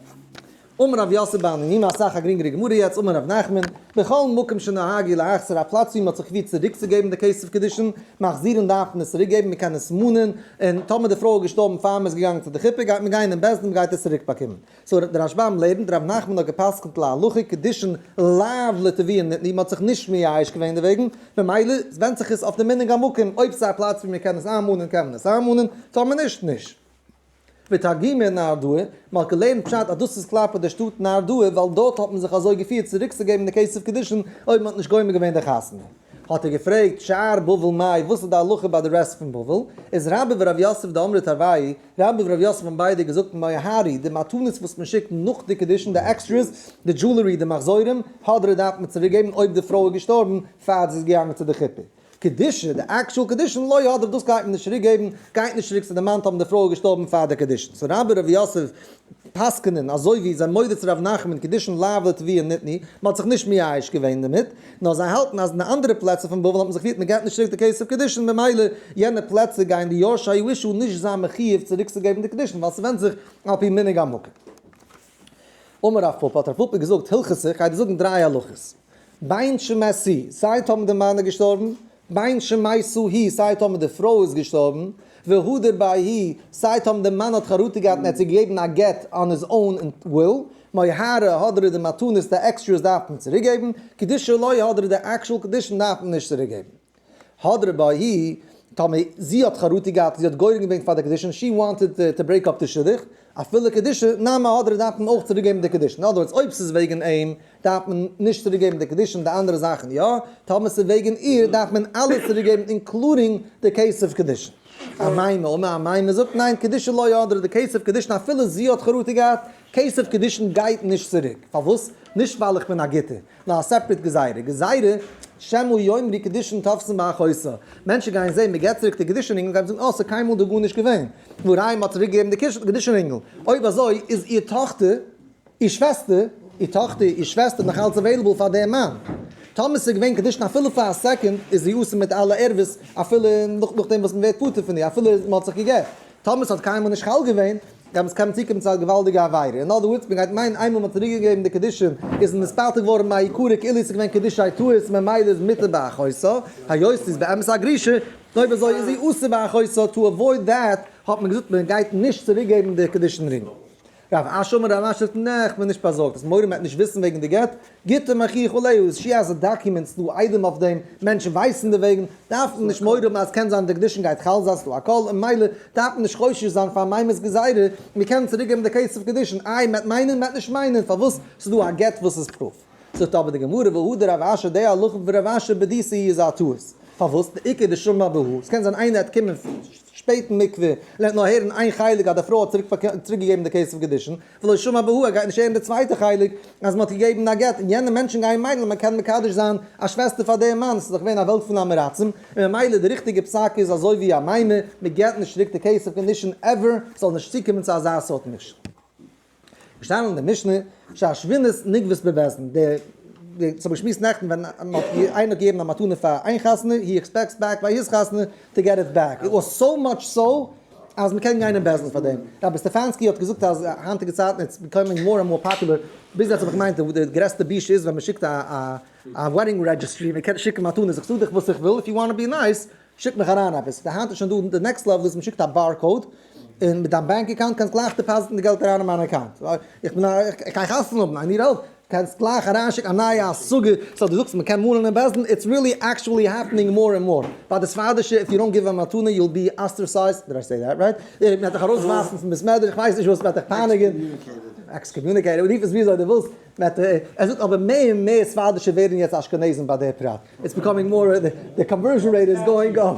אמר רב יוסי בענינים, אסאך א גרינגערע גמרא יעצט, אמר רב נחמן, בכל מקום שנהג אי להחזיר א פלאץ ווי מ'האט זיך געפירט צוריקצוגעבן די כסף קידושין, מחזירין דארף מען עס צוריקגעבן, מ'קען עס מאנען, און טאמער די פרוי האט געשטארבן פאר מ'איז געגאנגען צו די חופה גייט מען גיין אין בית דין מ'גייט עס צוריקבאקומען. סאו דער רשב ם לערנט ר' נחמן האט געפסקנט להלכה קידושין לאו לטביון נתני מ'האט זיך נישט מייאש געווען דערוועגן, ממילא ווענדט זיך עס אויף די מנהג המקום אויב ס'איז א פלאץ ווי מ'קען עס איינמאנען קען מען עס איינמאנען, טאמער נישט נישט. ותגי מ נהרדעא, מ'האט געלערנט פשט אז דאס איז כלפי די שטאט נהרדעא ווייל דארט האט מען זיך אזוי געפירט צוריקצוגעבן די כסף קידושין אויב מ'האט נישט גומר געווען די חתונה. האט ער געפרעגט, שאר בבל מאי, וואס איז די הלכה ביי די רעסט פון בבל? איז רבא ורב יוסף דאמרי טבעי, רבי ור' יוסף האבן ביידע געזאגט מוה הארי, די מתנות וואס מען שיקט נאך די קידושין, די עקסטרעס, די דזשולערי, די מחזורים, הדרה דארף מען צוריק געבן אויב די פרוי איז געשטארבן פאר זי איז געגאנגען צו די חופה. קידושא, די עקשועל קידושין לא יהדרה דאס גייט מען נישט צוריק געבן, גייט נישט צוריק צו די מאן טאמער די פרוי איז געשטארבן פאר די קידושין. סאו רבי ר' יוסף פסק'נען אזוי ווי זיי מודה צו ר' נחמן קידושין לאו לטבי און ניתני, מען האט זיך נישט מייאש געווען דערמיט, נאר זיי האלטן אז אין די אנדערע פלעצער פון בבל האט מען זיך געפירט מען געט נישט צוריק די כסף קידושין ממילא יענע פלעצער גייען די יורשי הירושה נישט זיין מחיוב צוריקצוגעבן די קידושין ווייל ס'ווענדט זיך על פי מנהג המקום. אמר רב פפא האט רב פפא געזאגט הלכות איך גיי דיר זאגן דריי הלכות, בין שמעשי זייט האבן די מנהיג געשטארבן בין שמעשו הי' סיי טאמער די פרוי איז געשטארבן, והדר ביי הי' סיי טאמער די מאן האט חרטה געהאט און ער האט צו געגעבן א גט אן היז אוין וויל, מי הרה הדר איז די מתנות די עקסטרעס דארף מען צוריק געבן, קדישא לוי הדר די עקשול קדישין דארף מען נישט צוריק געבן. הדר ביי הי' טאמער זי האט חרטה געהאט און זי האט גורם געווען פאר די קדישין, שי וואנטעד טו ברעיק אפ די שידוך, אפילו קדישא נמי הדרא דארף מען אויך צוריק געבן די קדישין, אין אדער ווארדס אויב ס'איז וועגן אים דארף מען נישט צוריק געבן די קדישין די אנדערע זאכן יא, טאמער ס'איז וועגן איר דארף מען אלעס צוריק געבן אינקלודינג די כסף קדישין. א מאי נאמר א מאי מ'זאגט ניין קדישא לא יהדרה די כסף קדישין אפילו זי האט חרטה געהאט כסף קדישין גייט נישט צוריק פארוואס? נישט ווייל איך בין א גוטער נאר א סעפרעט גזירה. גזירה, שמא יאמרי קדישין תאפסן ביי א חוסה. מענטשן גייען זעהן מען געט צוריק די קדישין רינגל גייען זאגן אה ס'איז קיינמאל דא גארנישט געווען נאר היי מ'האט צוריק געגעבן די קדישין רינגל. אויב אזוי איז איר טאכטער, איר שוועסטער, איר טאכטער, איר שוועסטער נאך אלץ עוועילעבל פאר דעם מאן. טאמער ס'איז געווען קדישין אפילו פאר א סעקאנד איז זי אסור מיט אלע ערבות אפילו נאכדעם וואס מ'ווערט פטור פון איר אפילו מ'האט זיך געגעט. טאמער ס'האט קיינמאל נישט חל געווען, דעמאלטס קען מען צוקומען צו א געוואלדיגע עבירה. אין אדער ווארדס, מ'גייט מיינען איינמאל מ'האט צוריק געגעבן די קדישים, איז עס נספלט געווארן מעיקרא כאילו עס איז געווען קדישי טעות, ממילא איז מותר באחוזו, היות ס'איז באמת א גרישה, אויב אזוי איז זי אסור באחוזו, טו עוואויד דעט האט מען געזאגט מ'גייט נישט צוריקגעבן די קדישין רינג. ר' אשר אומר א רש י פון נעכט מען נישט באזארגט אז מורם מעט נישט וויסן וועגן די גט, גיטין מכיר וכו' איז שי אז די דאקיומענטס דא איידעם אויף דעם, מענטשן ווייסן דערוועגן, דארף מען נישט מורא האבן אז קען זיין די קדושין גייט חל זיין ס'דא א קול און ממילא דארף מען נישט חושש זיין פאר מיימער'ס גזירה, מיר קענען צוריק געבן די קעיס אויף קדושין, איי מעט מיינען מעט נישט מיינען פארוואס ס'דא א גט וואס איז פרוף. זאגט אבער די גמרא והא דרב אשי די הלכה פון רב אשי בדיסא היא איז א טעות, פארוואס? די עיקר די שומע ב ה, עס קען זיין איינער עט קומען שפעט אין מקווה און ער האט נאר הערן איין חלק אז די פרוי האט צוריק געגעבן די כסף קידושין, ולא שמע ב ה ער גייט נישט הערן די צווייטע חלק אז מען האט געגעבן א גט און יענע מענטשן גייען מיינען אז מען קען מקדש זיין א שוועסטער פאר דעם מאן, עס איז דאך געווען א וועלט פון עמעראצים, און ממילא די ריכטיגע פסק איז אזוי ווי א מימר, מען געט נישט צוריק די כסף קידושין עווער, ס'זאל נישט צוקומען צו אזא סארט משל. געשטאנען אין די משנה שהשווינות נגבית בבעסן, די די ס'האב געשמועסט נעכטן ווען איינער האט געגעבן א מתנה פאר איין חתונה הי עקספעקטס בעק ביי היז חתונה טו געט איט בעק איט וואס סאו מאטש סאו אז מ'קען גיין אין בעסן פאר דעם, רבי סטעפאנסקי האט געזאגט אז היינטיגע צייטן איטס ביקאמינג מאר ענד מאר פאפולער, ביז יעצט האב איך געמיינט אז די גרעסטע בושה איז ווען מ'שיקט א א א וועדינג רעדזשיסטרי, מ'קען שיקן מתנות איך טו דיך וואס איך וויל איף יו וואנט טו בי נייס. שיק מיך אריין עפעס, די היינט איז שוין דא די נעקסט לעוועל איז מ'שיקט א באר קאוד, און מיט דיין באנק אקאונט קענסט גלייך דעפאזיטן די געלט אריין אין מיין אקאונט, איך בין א איך גיי חתונה האבן איי ניד העלפ, קענסט גלייך אריינשיקן א נייע השגה, סאו די זאגסט מ'קען מאלן אין בעסטן, איטס ריעלי עקשועלי העפענינג מאר ענד מאר, ביי די ספרדישע איף יו דאנט גיוו א מתנה יו וויל בי אסטערסייזד, דיד איי סעי דעט רייט? מ'וועט דיך ארויסווארפן פון בית מדרש, איך ווייס נישט וואס וועט דיך פייניגען, עקסקאמיוניקעיטעד, רוף עס וויאזוי די ווילסט. מעט ער זאגט אבער מער און מער ספרדישע ווערן יעצט אשכנזים ביי דער פרט, איטס ביקאמינג מאר און די קאנווערזשען רעיט איז גאוינג אפ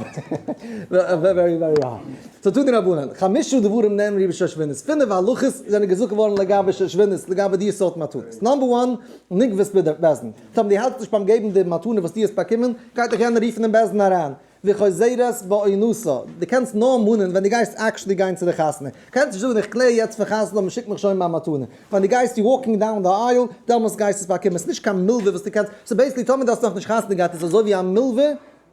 ווערי ווערי היי. סאו תנו רבנן, חמשה דברים נאמרו בשושבינות, פינף הלכות זענען געזאגט געווארן לגבי שושבינות לגבי די סארט מתנות, נאמבער וואן, נקבע'ס ביז דער בעש ט, טאמער דו האלטסט נישט ביים געבן די מתנה וואס דו האסט באקומען, גייט דיך יענער רופן אין בעש ט אריין, וחוזרת באונוסה, דו קענסט נאר מאנען ווען דו גייסט עקשעלי גיין צו די חתונה, קענסט נישט זאגן איך קלער יעצט פון חז ל מ'שיקט מיך שוין מיין מתנה, ווען דו גייסט יו וואקינג דאון די אייל דעמאלסט גייסט עס באקומען, ס'איז נישט קיין מלווה וואס דו קענסט, סאו בעיסיקלי טאמער דו האסט נאכנישט חתונה געהאט איז עס אזוי ווי א מלווה,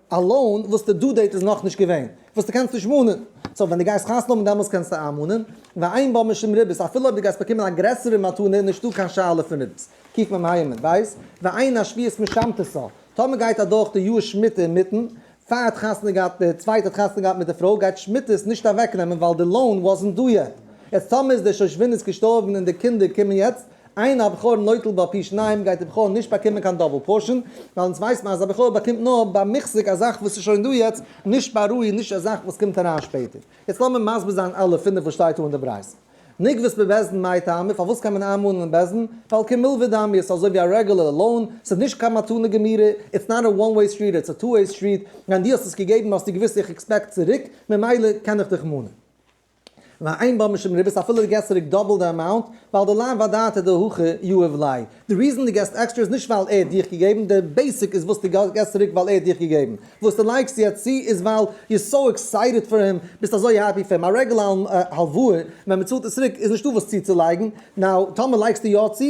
א לאון, וואס די דו דעיט איז נאכנישט געווען, וואס דו קענסט נישט מאנען, סאו ווען דו גייסט חתונה האבן דעמאלסט קענסטו איינמאנען, ועיין בה משום ריבית, אפילו אויב דו גייסט באקומען א גרעסערע מתנה איז נישטא קיין שאלה פון ריבית, קיק מ מהימנ, בית, ועיין השביעית משמתסא, טאמער גייט אדורך די יאר שמיטה אינמיטן, פאר ער האט חתונה געהאט, דער צווייטער האט חתונה געהאט מיט די פרוי, גייט שמיטה עס נישט אוועק נעמען ווייל די לאון וואזענט דא יעט. יעצט טאמער איז דער שושבין איז געשטארבן און די קינדער קומען יעצט, איין הבכור נוטל בה פי שניים, גייט די בכור נישט באקומען קיין דאבל פארשען, ווייל אונז ווייסט מען אז א בכור באקומט נאר ביי מוחזק א זאך וואס איז שוין דא יעצט, נישט ביי ראי', נישט א זאך וואס קומט אריין שפעטער. יעצט לאמיר מסביר זיין אלע פינף וואס שטייט דא אין די ברייתא. נקב'ס בבעסדן מאי טעמא, פארוואס קען מען איינמאנען אין בעסדן? ווייל כמלווי דמי, ס'איז אזוי ווי א רעגולער לאון, ס'איז נישט קיין מתנה גמורה, איטס נאט א וואן וועי סטריט איטס א טו וועי סטריט, ווען דו האסט עס געגעבן האסטו געוויסט איך עקספעקט צוריק, ממילא קען איך דיך מאנען. ועיין בה משום ריבית אפילו געסט צוריק דאבל די אמאונט, ווייל די לאו ודעתא דהכי יהא ולאי. די ריזען די געסט עקסטרע איז נישט ווייל ער האט דיך געגעבן, די בעסיק איז וואס די געסט צוריק ווייל ער האט דיך געגעבן. וואס די לייגסט יעצט צו איז ווייל יו אר סאו עקסייטעד פאר אים, ביסט אזוי העפי פאר אים. א רעגולע הלוואה ווען מען צאלט עס צוריק איז נישטא וואס צוצולייגן, נאו טאמער לייגסטו יא צו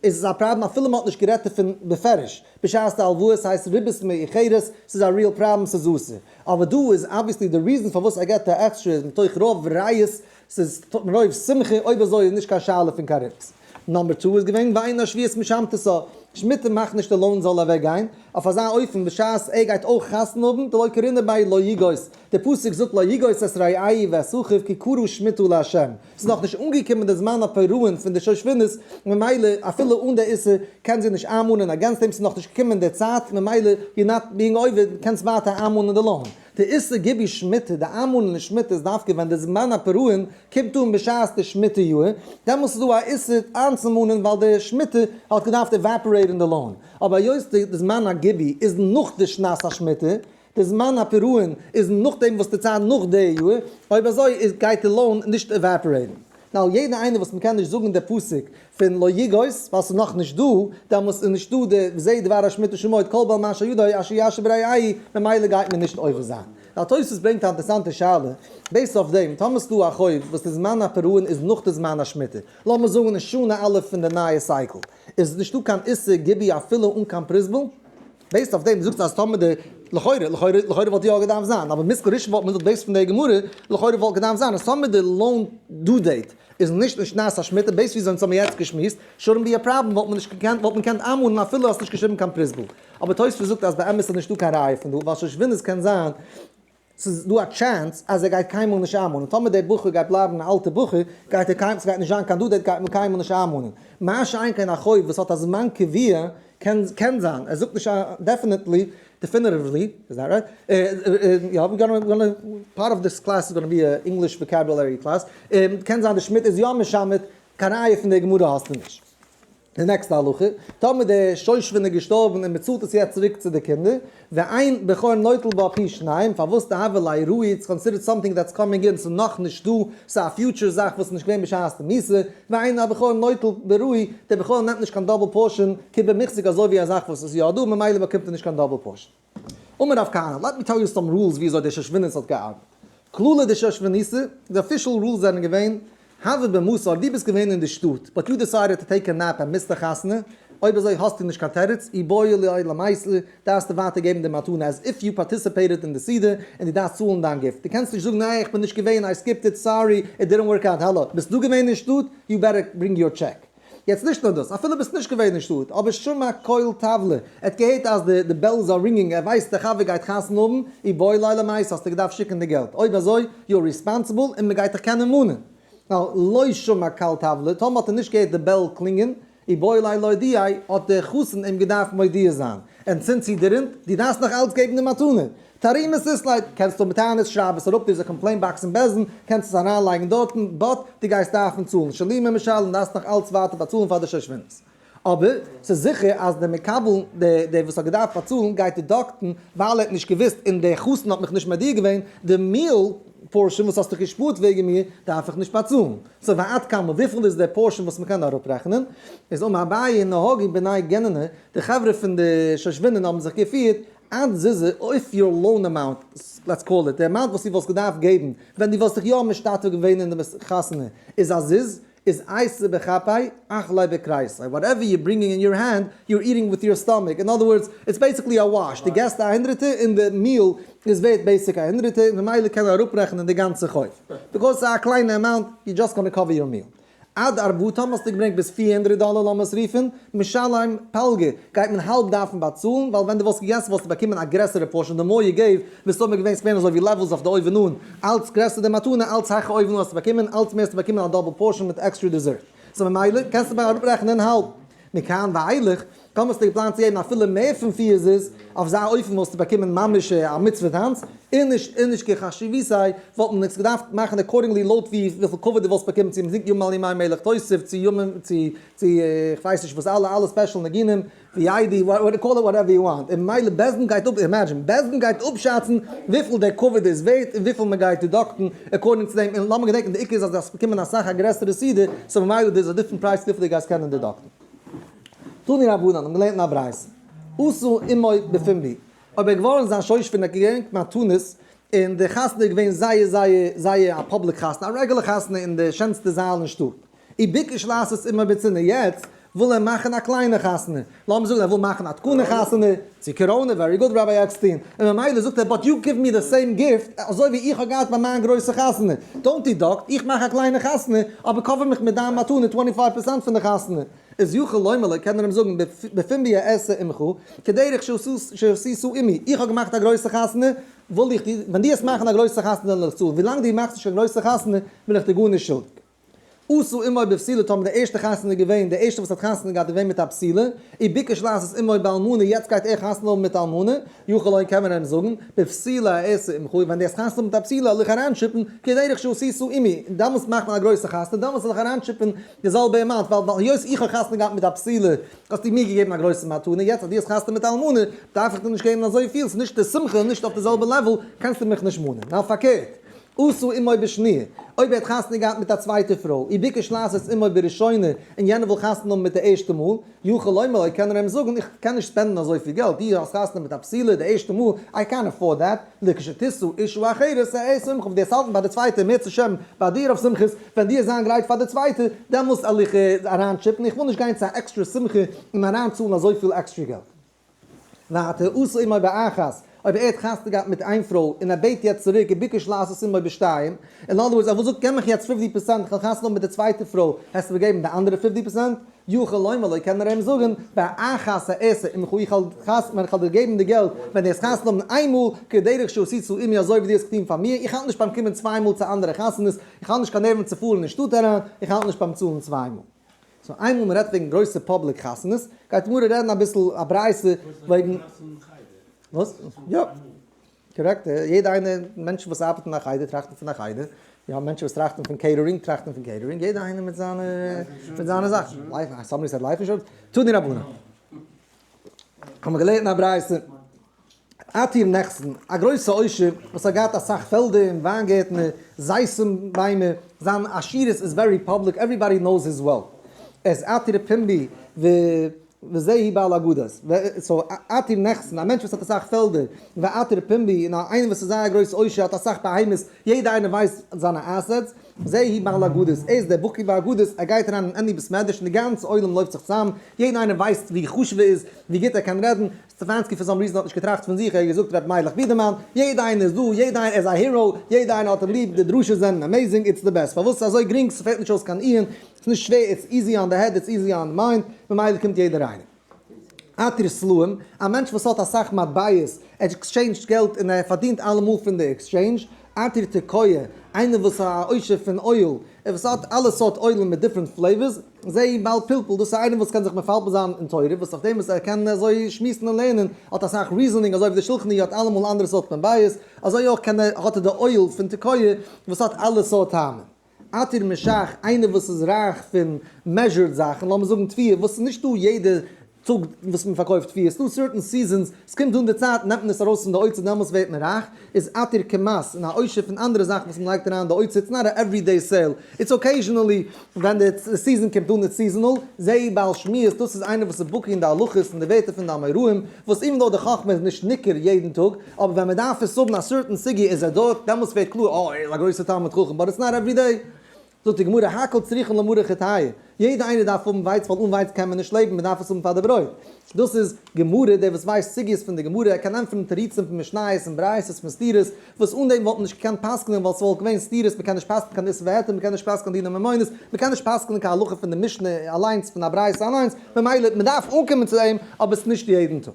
איז עס א פראבלעם אפילו מען האט נישט גערעדט דערפון בפירוש, בשעת די הלוואות הייסט ריבית מאיחרת, ס'איז א ריעל פראבלעם ס'איז אסור. אבער דא איז אבוויעסלי די ריזען פארוואס ער געבט א עקסטרע איז מתוך רוב ראיות ס'איז מרוב שמחה, אויב אזוי איז נישט קיין שאלה פון קארופץ. נאמבער טו איז געווען ואין השביעית משמטותא, שמיטה מאכט נישט די לויען זאל אוועק גיין, אויף אזא אופן בשעת ער גייט אויך חתונה האבן, דלא קרינא ביי לא יגעוס, דער פסוק זאגט לא יגעוס את רעי' ואת אחיו כי קרא שמיטה לה', ס'איז נאך נישט אנגעקומען די זמן הפירעון פון די שושבינות, ממילא אפילו אן די איסור קען זי נישט איינמאנען, אגענסט דעם ס'איז נאך נישט געקומען די צייט, ממילא יו נאט ביאינג אויווער קענסט ווייטער איינמאנען די לויען. די איסור גיבוי שמיטה, די איינמאלען אין שמיטה איז דווקא ווען די זמן הפרעה'ן קומט אן בשעת די שמיטה יאהר, דעמאלס איז דא א איסור איינצומאנען ווייל די שמיטה האט געדארפט עוועפארעיטען די לאון, אבער היות די זמן הגיבוי איז נאך די שנת השמיטה, די זמן הפרעה'ן איז נאכדעם וואס די צייט נאך די יאהר, אויב אזוי איז גייט די לאון נישט עוועפארעיטען. ווייל יעדער איינער וואס מ'קען נישט זאגן די פסוק פון לא יגעוס ווייל ס'איז נאך נישט דא, דעמאלס איז נישט דא די וזה דבר השמיט ושמוט כל בעל מה שידו אשר יעשה ברעי' ממילא גייט מען נישט עובר זיין. דער תוספות ברענגט א אינטערעסאנטע שאלה בעיסד אויף דעם, טאמער ס'איז דא א חוב וואס די זמן הפירעון איז נאך די זמן השמיטה, לאמיר זאגן אין שנה א' פון די נייע סייקל, איז נישט דא קיין איסור גיבוי אפילו אן קיין פריסבל? בעיסד אויף דעם זאגסטו אז טאמער די לכאורה לכאורה לכאורה וואלט יא געדארפט זיין אבער מזכר ראשון וואלט מען געזאגט בעיסד פון די גמרא לכאורה וואלט געדארפט זיין אז טאמער די לאון דו דעיט איז נישט אין שנת השמיטה בעיסד וויאזוי אונז האבן יעצט געשמועסט שורנט בי א פראבלעם וואלט מען נישט געקענט וואלט מען געקענט איינמאלן אפילו האסט נישט געשריבן קיין פריסבל אבער תוספות זאגט אז באמת איז נישטא קיין ראיה פון דא ווייל שושבינות קען זיין ס'איז דא א טשענס אז ער גייט קיינמאל נישט איינמאנען, טאמער דער בחור גייט בלייבן א אלטע בחור, גייט ער קיין, ס'גייט נישט זיין קיין דו דעיט גייט מען קיינמאל נישט איינמאנען, מה שאין כן א חוב וואס האט א זמן קביע, קען קען זיין, ער זאגט נישט דעפענעטלי, דעפינעטיוולי, איז דעט רייט? און יא, ווי גאנע, פארט אוו דיס קלעס איז גאנע בי א ענגליש וואקעבולערי קלעס, און קען זיין די שמד איז יא משמד, קיין ראיה פון דער גמרא האסטו נישט. די נעקסטע הלכה, טאמער דער שושבין איז געשטארבן און מען צאלט עס יעצט צוריק צו די קינדער, ואין בכור נוטל בו פי שניים, פארוואס די הוה ליה ראי', איטס קאנסידערט סאמטינג דעטס קאמינג אין, ס'איז נאכנישט דא, ס'איז א פיוטשער זאך וואס איז נישט געווען בשעת די מיתה, ואין הבכור נוטל בראי', דער בכור נעמט נישט קיין דאבל פארשען, כבמחזיק אזוי ווי א זאך וואס איז יא דא, ממילא באקומט ער נישט קיין דאבל פארשען. אמר רב כהנא, לעט מי טעל יו סאם רולס וויאזוי דער שושביניסט האט געארבעט. כללי די שושביניסע, די אפישעל רולס זענען געווען, הווה במוסר, דו ביסט געווען אין די שטאט, באט יו דעסיידעד טו טעיק א נעפ און מיסט א חתונה, אויב אזוי האסטו נישט קיין תירוץ, אי בואי ליועד למעשה, דארפסטו ווייטער געבן די מתנה עז איף יו פארטיסיפעיטעד אין די סעודה, און דו דארפסט צאלן דיין גיפט. דו קענסט נישט זאגן אה איך בין נישט געווען, איי סקיפט איט, סארי, איט דידנט ווארק אוט, האלא, ביסט דא געווען אין שטאט, יו בעטער ברינג יור טשעק. יעצט נישט נאר דאס, אפילו ביסט נישט געווען אין שטאט, אבער שמע קול תבלע, ער האט געהערט אז די די בעלס אר רינגינג, ער ווייסט די חבר גייט חתונה האבן, אי בואי לא למעשה האסטו געדארפט שיקן די געלט, אויב אזוי יו אר ריספאנסיבל און מען גייט דיך קענען מאנען. ווייל לא שמע קול תבלע, טאמער האט ער נישט געהערט די בעל קלינגען, אי בואי לא להודיעי, האט דער חתן אים געדארפט מודיע זיין, און זינט זי דערינט, דו דארפסט נאך אלץ געבן די מתנה, תרעומות איסלייט, קענסט האבן טענות, שרייב עס אראפ, דא איז א קאמפלעין באקס אין בעז ן, קענסט עס אריינלייגן דארטן, באט דו גייסט דארפן צאלן שלי מ משל און דארפסט נאך אלץ ווייטער באצאלן פאר די שושבינות. אבער ס'איז זיכער אז דער מקבל, דער וואס האט געדארפט באצאלן, גייט דידאקטן ווייל ער האט נישט געוואוסט און דער חתן האט מיך נישט מודיע געווען, די מיעל פארשען וואס האסטו געשפארט וועגן מיר דארף איך נישט באצאלן. סאו ועד כמה, וויפיל איז דער פארשען וואס מ'קען אראפרעכענען? איז אמר אביי נהגי בני גננה, די חברה פון די שושבינים האבן זיך געפירט עד ז איז אויף יור לאון אמאונט, לעטס קאל איט, די אמאונט וואס דו וואלסט געדארפט געבן ווען דו וואלסט זיך יא משתתף געווען אין די חתונה, איז עד ז איז אייסע בכפיי אכלי בקרייסעי, וואטעווער יור ברינגינג אין יור הענד, יור איטינג וויט יור סטאמאק, אין אדער ווארדס, איטס בעיסיקלי א וואש, דו געסט א הונדרעטער און די מיעל איז ווערט בעיסיק א הונדרעטער און ממילא קען ער אראפרעכענען די גאנצע חוב, ביקאויס ס'איז א קליינע אמאונט, יור דזשאסט גאנא קאווער יור מיעל. עד ערבותם האסטו געברענגט ביז פֿיר הונדרעט דאלער לאמיר עס רופן, משלים פלגה גייט מען האלב דארפן באצאלן ווייל ווען דו וואלסט געגעסן וואלסטו באקומען א גרעסערע פארשען די מור יו געוו וואלסט אויב מען געווען ספערן אזוי ווי לעוועלס אויף די אויבן אן אלץ גרעסער די מתנה אלץ הייכער אויבן אן האסטו באקומען אלץ מער האסטו באקומען א דאבל פארשען מיט עקסטרע דיזערט סא ממילא קענסטו אראפרעכענען האלב מכאן ואילך, טאמער האסטו געפלאנט צו געבן אפילו מער פון פיר זוז, אויף זיין אופן וואלסטו באקומען ממש א מצוה טאנץ, און נישט און נישט כחשיבותי' וואלט מען עס געדארפט מאכן אקארדינגלי לויט ווי וויפיל כבוד דו וואלסט באקומען צו מ'זינגט ימים על ימי מלך תוסיף צו ימים צו צו כ'ווייס נישט וואס אלע אלע ספעשל ניגונים ווי איידי וואט קאל איט וואטעווער יו וואנט, און ממילא בעסט דין גייט אפ אימעדזשין בעסט דין גייט אפשאצן וויפיל דער כבוד איז ווערט און וויפיל מ'גייט דעדאקטן עקארדינג צו דעם, און לאמיר געדענקן די עיקר איז אז עס קומען אסאך א גרעסערע סדר, סאו ממילא דער איז א דיפרענט פרייז וויפיל די גייסט קענען דעדאקטן. תני רבנן האבן געלערנט אין א ברייתא, עשו עמוי בפומבי, אויב ער געווארן זיין שויש פון ער האט געברענגט מתנות, און די חתונה איז געווען זייער זייער זייער א פאבליק חתונה, א רעגולער חתונה אין די שענסטע זאל אין שטאט, און ביקש לעשות עמו בצנעה יעצט וויל ער מאכן א קליינע חתונה, לאמיר זאגן ער וויל מאכן א תקנה חתונה, צו קאראנע, ווערי גוד ראביי עקסטין, און ממילא זאגט ער באט יו גיוו מי די סעים גיפט אזוי ווי איך האב געהאט ביי מיין גרויסע חתונה, דאונט דידאקט, איך מאך א קליינע חתונה, אבער קאווער מיך מיט דיין מתנה טווענטי פייוו פערסענט פון די חתונה, איז יכול לומר לו קען ער אים זאגן בפומבי אעשה עמך כדרך שעשיתו עמי, איך האב געמאכט א גרויסע חתונה, וויל איך דיר, ווען דו וועסט מאכן א גרויסע חתונה וועל איך צאלן, ווילאנג דו מאכסט נישט קיין גרויסע חתונה בין איך דיר גארנישט שולדיג. עשו עמו בפסילה טאמער די ערשטע חתונה איז געווען די ערשטע וואס האט חתונה געהאט איז געווען מיט א פסילה און ביקש לעשות עמו באלמנה יעצט גייט ער חתונה האבן מיט א אלמנה יוכל אויב קען מען אים זאגן בפסילה עשו עמך ווען די האסט חתונה האבן מיט א פסילה זאל איך אריינטשיפן כדרך שעשיתו עמי דעמאלטס מאכט מען א גרויסע חתונה דעמאלטס זאל איך אריינטשיפן די זעלבע אמאונט ווייל ווייל היות איך האב חתונה געהאט מיט א פסילה האסטו מיר געגעבן א גרויסע מתנה יעצט אז דו האסט חתונה מיט א אלמנה דארף איך דיר נישט געבן אזויפיל ס'איז נישט די שמחה נישט אויף די זעלבע לעוול קענסטו מיך נישט מאנען ניין פארקערט אסור אם אויב בשניה, אויב ער האט חתונה געהאט מיט א צווייטע פרוי, אי ביקש לעשות אם אויב בראשונה, און יענער וויל חתונה האבן מיט די ערשטע מאל, יוכל לומר ליה קען ער אים זאגן, איך קען נישט ספענדן אזויפיל געלט, אי האסט חתונה מיט א פסילה די ערשטע מאל, איי קען עפארד דעט, ליה כשתישא אישה אחרת ע ע שמחה, וועסט האלטן ביי די צווייטע מער צו שערן ביי דיר אויף שמחות, ווען דיר זיין גרייט פאר די צווייטע, דעמאלסט עליך אריין טשיפן, איך וויל נישט גיין צו א עקסטרע שמחה און אריין צאלן אזויפיל עקסטרע געלט. ואתה עושה עמו באחת, אויב ער האט חתונה געהאט מיט איין פרוי און ער בעט יעצט צוריק וביקש לעשות עמו בשתיים, אין אנדער ווארדס ער וואלט געזאגט געב מיך יעצט פופטי פראצענט איך וועל חתונה האבן מיט די צווייטע פרוי, העסטו אים געבן די אנדערע פופטי פראצענט? יוכל לומר לו קען ער אים זאגן באחת העשה עמך איך וועל דיר געבן די געלט ווען דו העסט חתונה האבן איין מאל כדרך שעשית צו עמי אזוי ווי דו האסט געטון פאר מיר, איך האלט נישט ביים קומען צוויי מאל צו אנדערע חתונות, איך האב נישט קיין נערוון צו פארן אין שטאט אריין, איך האלט נישט ביים צאלן צוויי מאל. סאו איינמאל מ'רעדט וועגן גרויסע פאבליק חתונות, גייט מוהרא רעדן אביסל א ברייתא וועגן. וואס? יא. קארעקט. יעדע איינע מענטשן וואס ארבעטן אין א חדר טראכטן פון א חדר. מיר האבן מענטשן וואס טראכטן פון קעיטערינג טראכטן פון קעיטערינג. יעדע איינער מיט זיינע מיט זיינע זאכן. לייף, סאמבאדי סעד לייף אינשורענס. תנו דרבנן. האמיר געלערנט אין א ברייתא. האט איר נעכטן א גרויסע עושר וואס האט געהאט אסאך פעלדער און וויין גערטנער, זייסן ביימער, זיין עשירות איז ווערי פאבליק עוועריבאדי נאוס היז וועלט, ער איז עתיר פומבי וזהי בעל אגדות, סאו האט איר נעכטן א מענטש וואס האט אסאך פעלדער און ווער עתיר פומבי און איינער וואס איז זייער גרויס עושר האט אסאך בהמות יעדע איינער ווייסט זיינע עסעטס, זהי בעל אגדות, ער איז דער בקי באגדות, ער גייט אריין אין עני בית מדרש און די גאנצע עולם לויפט זיך צוזאם, יעדע איינער ווייסט ווי חשוב ער איז, ווי גוט ער קען רעדן, סטעפאנסקי פאר סאם ריזען האט נישט געטראכט פון זיך, ער האט געזאגט רבי מיילעך בידערמאן, יעדע איינער איז דא, יעדע איינער איז א הירא, יעדע איינער האט אים ליב, די דרשות זענען עמעזינג, איטס די בעסט, פארוואס אזוי גרינג, ס'פעלט נישט אויס קיין איהם, ס'איז נישט שווער, איטס איזי אן די העד, איטס איזי אן די מיינד, ממילא קומט יעדער איינער. אתיר סלעים, א מענטש וואס האט אסאך מטבעות, ער עקסטשעינדזשט געלט און ער פארדינט אלעמאל פון די עקסטשעינדזש, אתיר תקוה, איינער וואס א עושר פון אויל, ער וואס האט אלע סארט אוילן מיט דיפרענט פלעיווערס, זעה בעל פלפול, דאס איז איינער וואס קען זיך מפלפל זיין אין תורה, וואס אויף דעם וואס ער קען אזוי שמועסן און לערנען, האט אסאך ריזענינג, אזוי ווי די שלחן ערוך האט אלעמאל אנדערע סארט מבייס, אזוי אויך קען ער, האט ער די אויל פון תקוה וואס האט אלע סארט טעמים. עתיר משאכ איינער וואס איז רייך פון מעזשורט זאכן, לאמיר זאגן תביעה, וואס איז נישט דא יעדע צוג וואס מען פארקויפט פיש, ס'דא סערטען סיזענס, ס'קומט דאן די צייט נעמט מען עס ארויס פון די אוצר דעמאלטס ווערט מען רייך, איז עתיר כמס, און א עושר פון אנדערע זאכן וואס מען לייגט אריין אין די אוצר, איטס נאט א עוורי דעי סעיל, איטס אקעיזשענעלי ווען די סיזען קומט אן, איטס סיזענעל, זעה בעל שמועס, דאס איז איינער וואס איז בקי אין די הלכות און די ווערטער פון די אמוראים, וואס איווען דאו די חכמה איז נישט ניכר יעדן טאג, אבער ווען מען דארף עס האבן א סערטען סוגיא איז ער דארט, דעמאלטס ווערט קלאר, אה ער איז א גרויסע תלמיד חכם, באט איטס נאט עוורי דעי, זאגט די גמרא הכל צריכין למאור חטאיו, יעדע איינער דארף האבן ווייץ ווייל אן ווייץ קען מען נישט לעבן, מען דארף עס האבן פאר די ברויט. דאס איז גמרא, דער וואס ווייסט סוגיות פון די גמרא, ער קען ענטפערן תירוצים פון משניות און ברייתות פון סתירות, וואס אן דעם וואלט מען נישט געקענט פסק'נען ווייל ס'וואלט געווען סתירות, מען קען נישט פסק'נען קיין איסור והיתר, מען קען נישט פסק'נען דיני ממונות, מען קען נישט פסק'נען קיין הלכה פון די משנה אליינס, פון א ברייתא אליינס, ממילא מען דארף אנקומען צו אים, אבער ס'נישט יעדן טאג.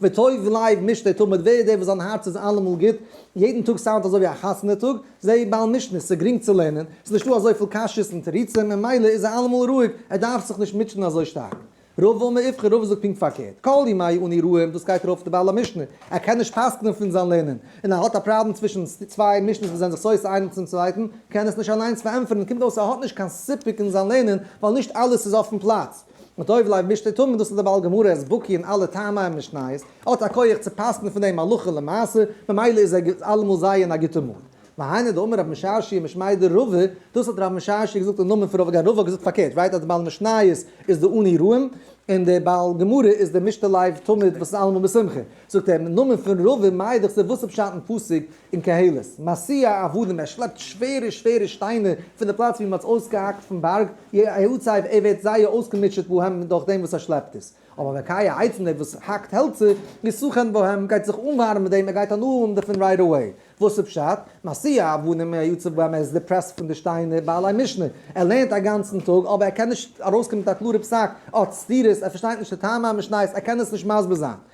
וטוב לב משתה תמיד, ווער איז דער וואס זיין הארץ איז אלעמאל גוט, יעדן טאג סאונדט אזוי ווי א חתונה טאג, זע בעל משנה, ס'איז גרינג צו לערנען, ס'איז נישטא אזויפיל קשיות און תירוצים, ממילא איז ער אלעמאל רואיג, ער דארף זיך נישט מוטשען אזוי שטארק. רוב וואו מען איפכא רובא זאגט פונקט פארקערט, כל ימי אני רואה, דאס גייט ארויף אויף די בעל המשנה, ער קען נישט פסק'נען פון זיין לערנען, און ער האט א פראבלעם צווישן צוויי משנות וואס זענען זיך סותר איינעם צום צווייטן, קען עס נישט אליינס פארענטפערן, קומט אויס ער האט נישט קיין סיפוק אין זיין לערנען, ווייל נישט אלעס איז אויפן פלאץ. מיט אויב לייב משתה טמא, דאס איז די בעל גמרא אז בקי אין אלע טעמי המשניות, האט א כח צו פסק'ן פון דעם הלכה למעשה, ממילא איז ער אלעמאל זייער אין א גוטע מוד. והיינו דאמר רב משאשי משמיידער רבה, דאס האט רב משאשי געזאגט אין נאמען פון רבה, גיין רבה האט געזאגט פארקערט, ווייט אז די בעל משניות איז די אני רואים, און די בעל גמרא איז די משתה לייב תמיד וואס איז אלעמאל בשמחה. זאגט ער, אין נאמען פון רבה מייד איך זיך וואס איז פשט אין פסוק אין קהלות, מסיע עבדים, ער שלעפט שווערע שווערע שטיינער פון די פלאץ ווי מ'האט עס אויסגעהאקט פון בארג, יעצייב ער ווערט זייער אויסגעמוטשעט בהם דורך דעם וואס ער שלעפט עס, אבער מקיא העצים דער וואס האקט העלצער, איז סוכן בהם, גייט זיך אנווארעמען מיט דעם, ער גייט אנהוילן דערפון רייט אוועי. וואס איז פשט? מסיע עבדים יעצב בהם, ער איז דיפרעסט פון די שטיינער, בעלי משנה, ער לערנט א גאנצן טאג, אבער ער קען נישט ארויסקומען מיט א קלארע פסק, ער האט סתירות, ער פארשטייט נישט די טעמי המשניות, ער קען עס נישט מסביר זיין.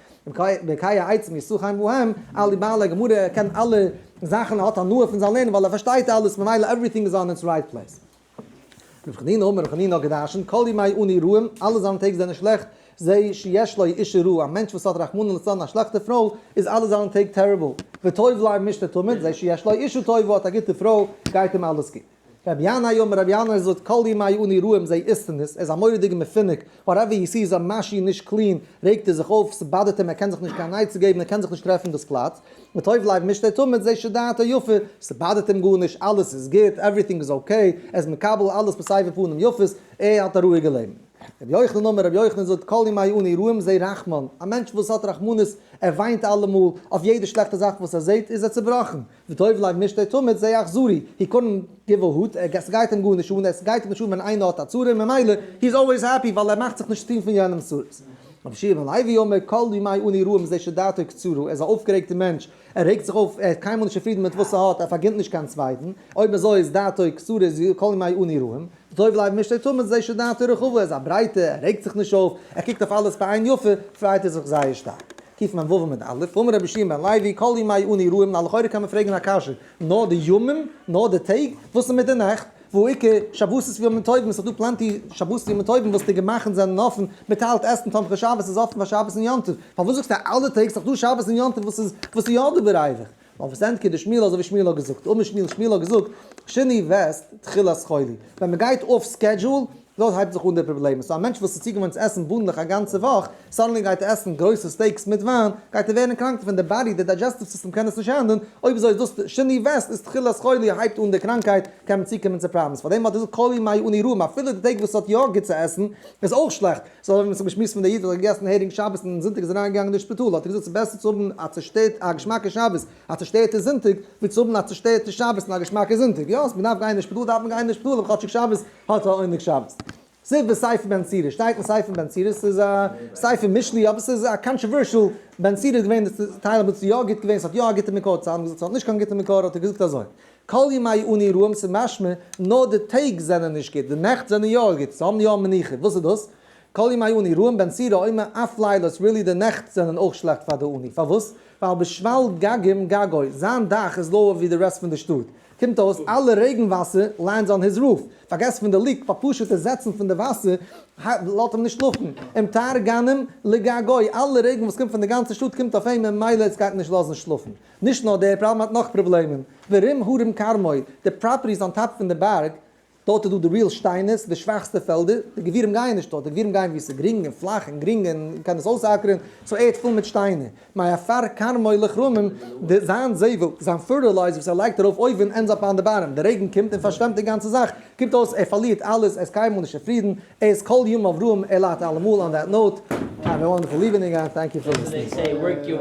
בקי העצום ישא חיים בהם, א ליבערלע גמרא קען אלע זאכן ער האט הנאה פון זיין לערנען ווייל ער פארשטייט אלעס ממילא עווריטינג איז אן איטס רייט פלעיס. ר' חנינא האט מיר ר' חנינא האט געדרשנט כל ימי אני רעים אלע זיינע טעג זענען שלעכט זה שיש לו אישה רעה א מענטש וואס האט רחמנא לצלן א שלעכטע פרוי איז אלע זיינע טעג טעריבל וטוב להם משתה תמיד זה שיש לו אישה טובה האט א גוטע פרוי גייט אים אלעס גוט. רבי ינאי אמר רבי ינאי זאגט כל ימי אני רועים זיי איסטן עס, ער איז א מורא'דיגע מפונק, וואטעווער הי סי'ס א מאשין נישט קלין, רעגט ער זיך אויף, ס'באדערט אים, ער קען זיך נישט קיין עצה געבן, ער קען זיך נישט טרעפן דאס פלאץ, וטוב לב משתה תמיד זה שדעתו יפה, ס'באדערט אים גארנישט, אלעס איז גוט, עווריטינג איז אקעי, ער איז מקבל אלעס וואס סייווי פנים יפות, ער האט א רואיגע לעבן. רבי יוחנן אמר רבי יוחנן זאגט כל ימי אני רועים זיי רחמן, א מענטש וואס האט רחמנות, ער וויינט אלעמאל, אויף יעדע שלעכטע זאך וואס ער זעט איז ער צובראכן, וטוב לג נישט דער תמיד זיי אכזרי, הי קונן גיב א הוט, עס גייט אים גארנישט אן, עס גייט אים נישט אן ווען איינער האט א צרה און ממילא הי איז אלוועיס העפי ווייל ער מאכט זיך נישט צוטון פון יענעמס צרות. רבי שמעון לעווי אומר כל ימי אני רואה מזה שדעתו קצרה, ער איז א אויפגערעגטער מענטש, ער רעגט זיך אויף, ער איז קיינמאל נישט צופרידן מיט וואס ער האט, ער פארגינט נישט קיין צווייטן, אויב אזוי איז דעתו קצרה איז כל ימי אני רואה, וטוב לג נישט דער תמיד זיי שדעתו רחבה, ער איז א ברייטער, ער רעגט זיך נישט אויף, ער קוקט אויף אלעס בעין יפה, פרייט ער זיך זייער שטארק. טיף מיין וואוו מיט אלף, אמר רבי שמעון בן לוי, כל ימי אן אירועים, נה לכאורה קען מען פרעגן א קשיא, נאר די ימים? נאר די טעג? וואס איז מיט די נאכט? והוא עיקר שבתות וימים טובים, עס איז דא פלענטי שבתות ימים טובים וואס די גמח'ן זענען אפן, מען טיילט עסן, תומכי שבתות איז אפן פאר שבת און יום טוב, פארוואס זאגסטו אלע טעג, ס'איז דאך דא שבת און יום טוב וואס איז וואס איז יא דא ברייוועך? אויף וואס ענטקעט די שמואל אזוי ווי שמואל האט געזאגט? אויב נישט שמואל, שמואל האט געזאגט שני וועסט תחילת חולי, ווען מען גייט אויף סקעדזשועל, דארט הייבט זיך אן די פראבלעמען, סאו א מענטש וואס איז צוגעוואוינט צו עסן בונדלעך א גאנצע וואך, סאדענלי גייט ער עסן גרויסע סטעיקס מיט וויין, גייט ער ווערן קראנק דערפון, די באדי, די דיידזשעסטיוו סיסטעם קען עס נישט הענדלן, אויב אזוי איז דאס שני וועסט איז תחילת חולי, הייבט אן די קראנקייט, קען מען צוקומען צו פראבלעמס, פארדעם האט ער געזאגט כל ימי אני רעים, אפילו די טעג וואס ער האט יא גוט צו עסן, איז אויך שלעכט. זאל ער נישט האבן געשמועסט פון די איד וואס האט געגעסן הערינג שבת און אום זונטאג איז אריינגעגאנגען אין שפיטאל, האט ער געזאגט ס'איז בעסער צו האבן א צעשטערט א געשמאקע שבת א צעשטערטע זונטאג ווי צו האבן א צעשטערטע שבת און א געשמאקע זונטאג, יא אז מ'דארף גיין אין שפיטאל דארף מען גיין אין שפיטאל אבער כאטשיג שבת האט א עונג שבת. ספר ספר בן צירא שטייט אין ספר בן צירא ס'איז א ספר משלי אבער ס'איז א קאנטראווערשעל בן צירא איז געווען די טייל וואס איז יא גוט געווען ס'האט יא א גוטע מקור צו האבן געזאגט ס'האט נישט קיין גוטע מקור האט ער געזאגט אזוי כל ימי אני רועם'ס איז משמע, נאר די טעג זענען נישט גוט, די נעכט זענען יא גוט, זיי האבן יא מנוחה, וואס איז דאס? כל ימי אני רועם בן סירא אומר אף לילות רילי די נעכט זענען אויך שלעכט פאר די אני, פארוואס? ווייל בשפל גגים גגוי, זיין דאך איז לאוער ווי די רעסט פון די שטאט, קומט אויס אלע רעגן וואסער לענדס אן היז רוף, פארגעסט פון די לופט, פאר פשוטע זעצן פון די וואסער לאזט אים נישט שלאפן, און תר גנים לגגוי, אלע רעגן וואס קומט פון די גאנצע שטאט קומט אויף אים און ממילא עס גייט אים נישט לאזן שלאפן. נישט נאר דער פראבלעם האט נאך פראבלעמען, ורים הרים כרמי, די פראפערטיס אן טאפ פון די בארג, דארט איז דא די ריעל שטיינערס, די שוואכסטע פעלדער, די גבירים גייען נישט דארט, די גבירים גייען ווי עס איז גרינג און פלאך און גרינג און מען קען עס אויסאקערען, סאו ערד פול מיט שטיינער, מעפר כרמי לכרמים, די זיין זבל, זיין פערטילייזער וואס ער לייגט ארויף אויבן ענדס אפ אן די בארעם, די רעגן קומט און פארשוועמט די גאנצע זאך, קומט אויס ער פארלירט אלעס, ער איז קיינמאל נישט צופרידן, ער איז כל ימיו רעם, ער ליידט אלעמאל, אן דעט נאוט, האוו א וואנדערפול איווענינג, ענד טענק יו פאר ליסטענינג.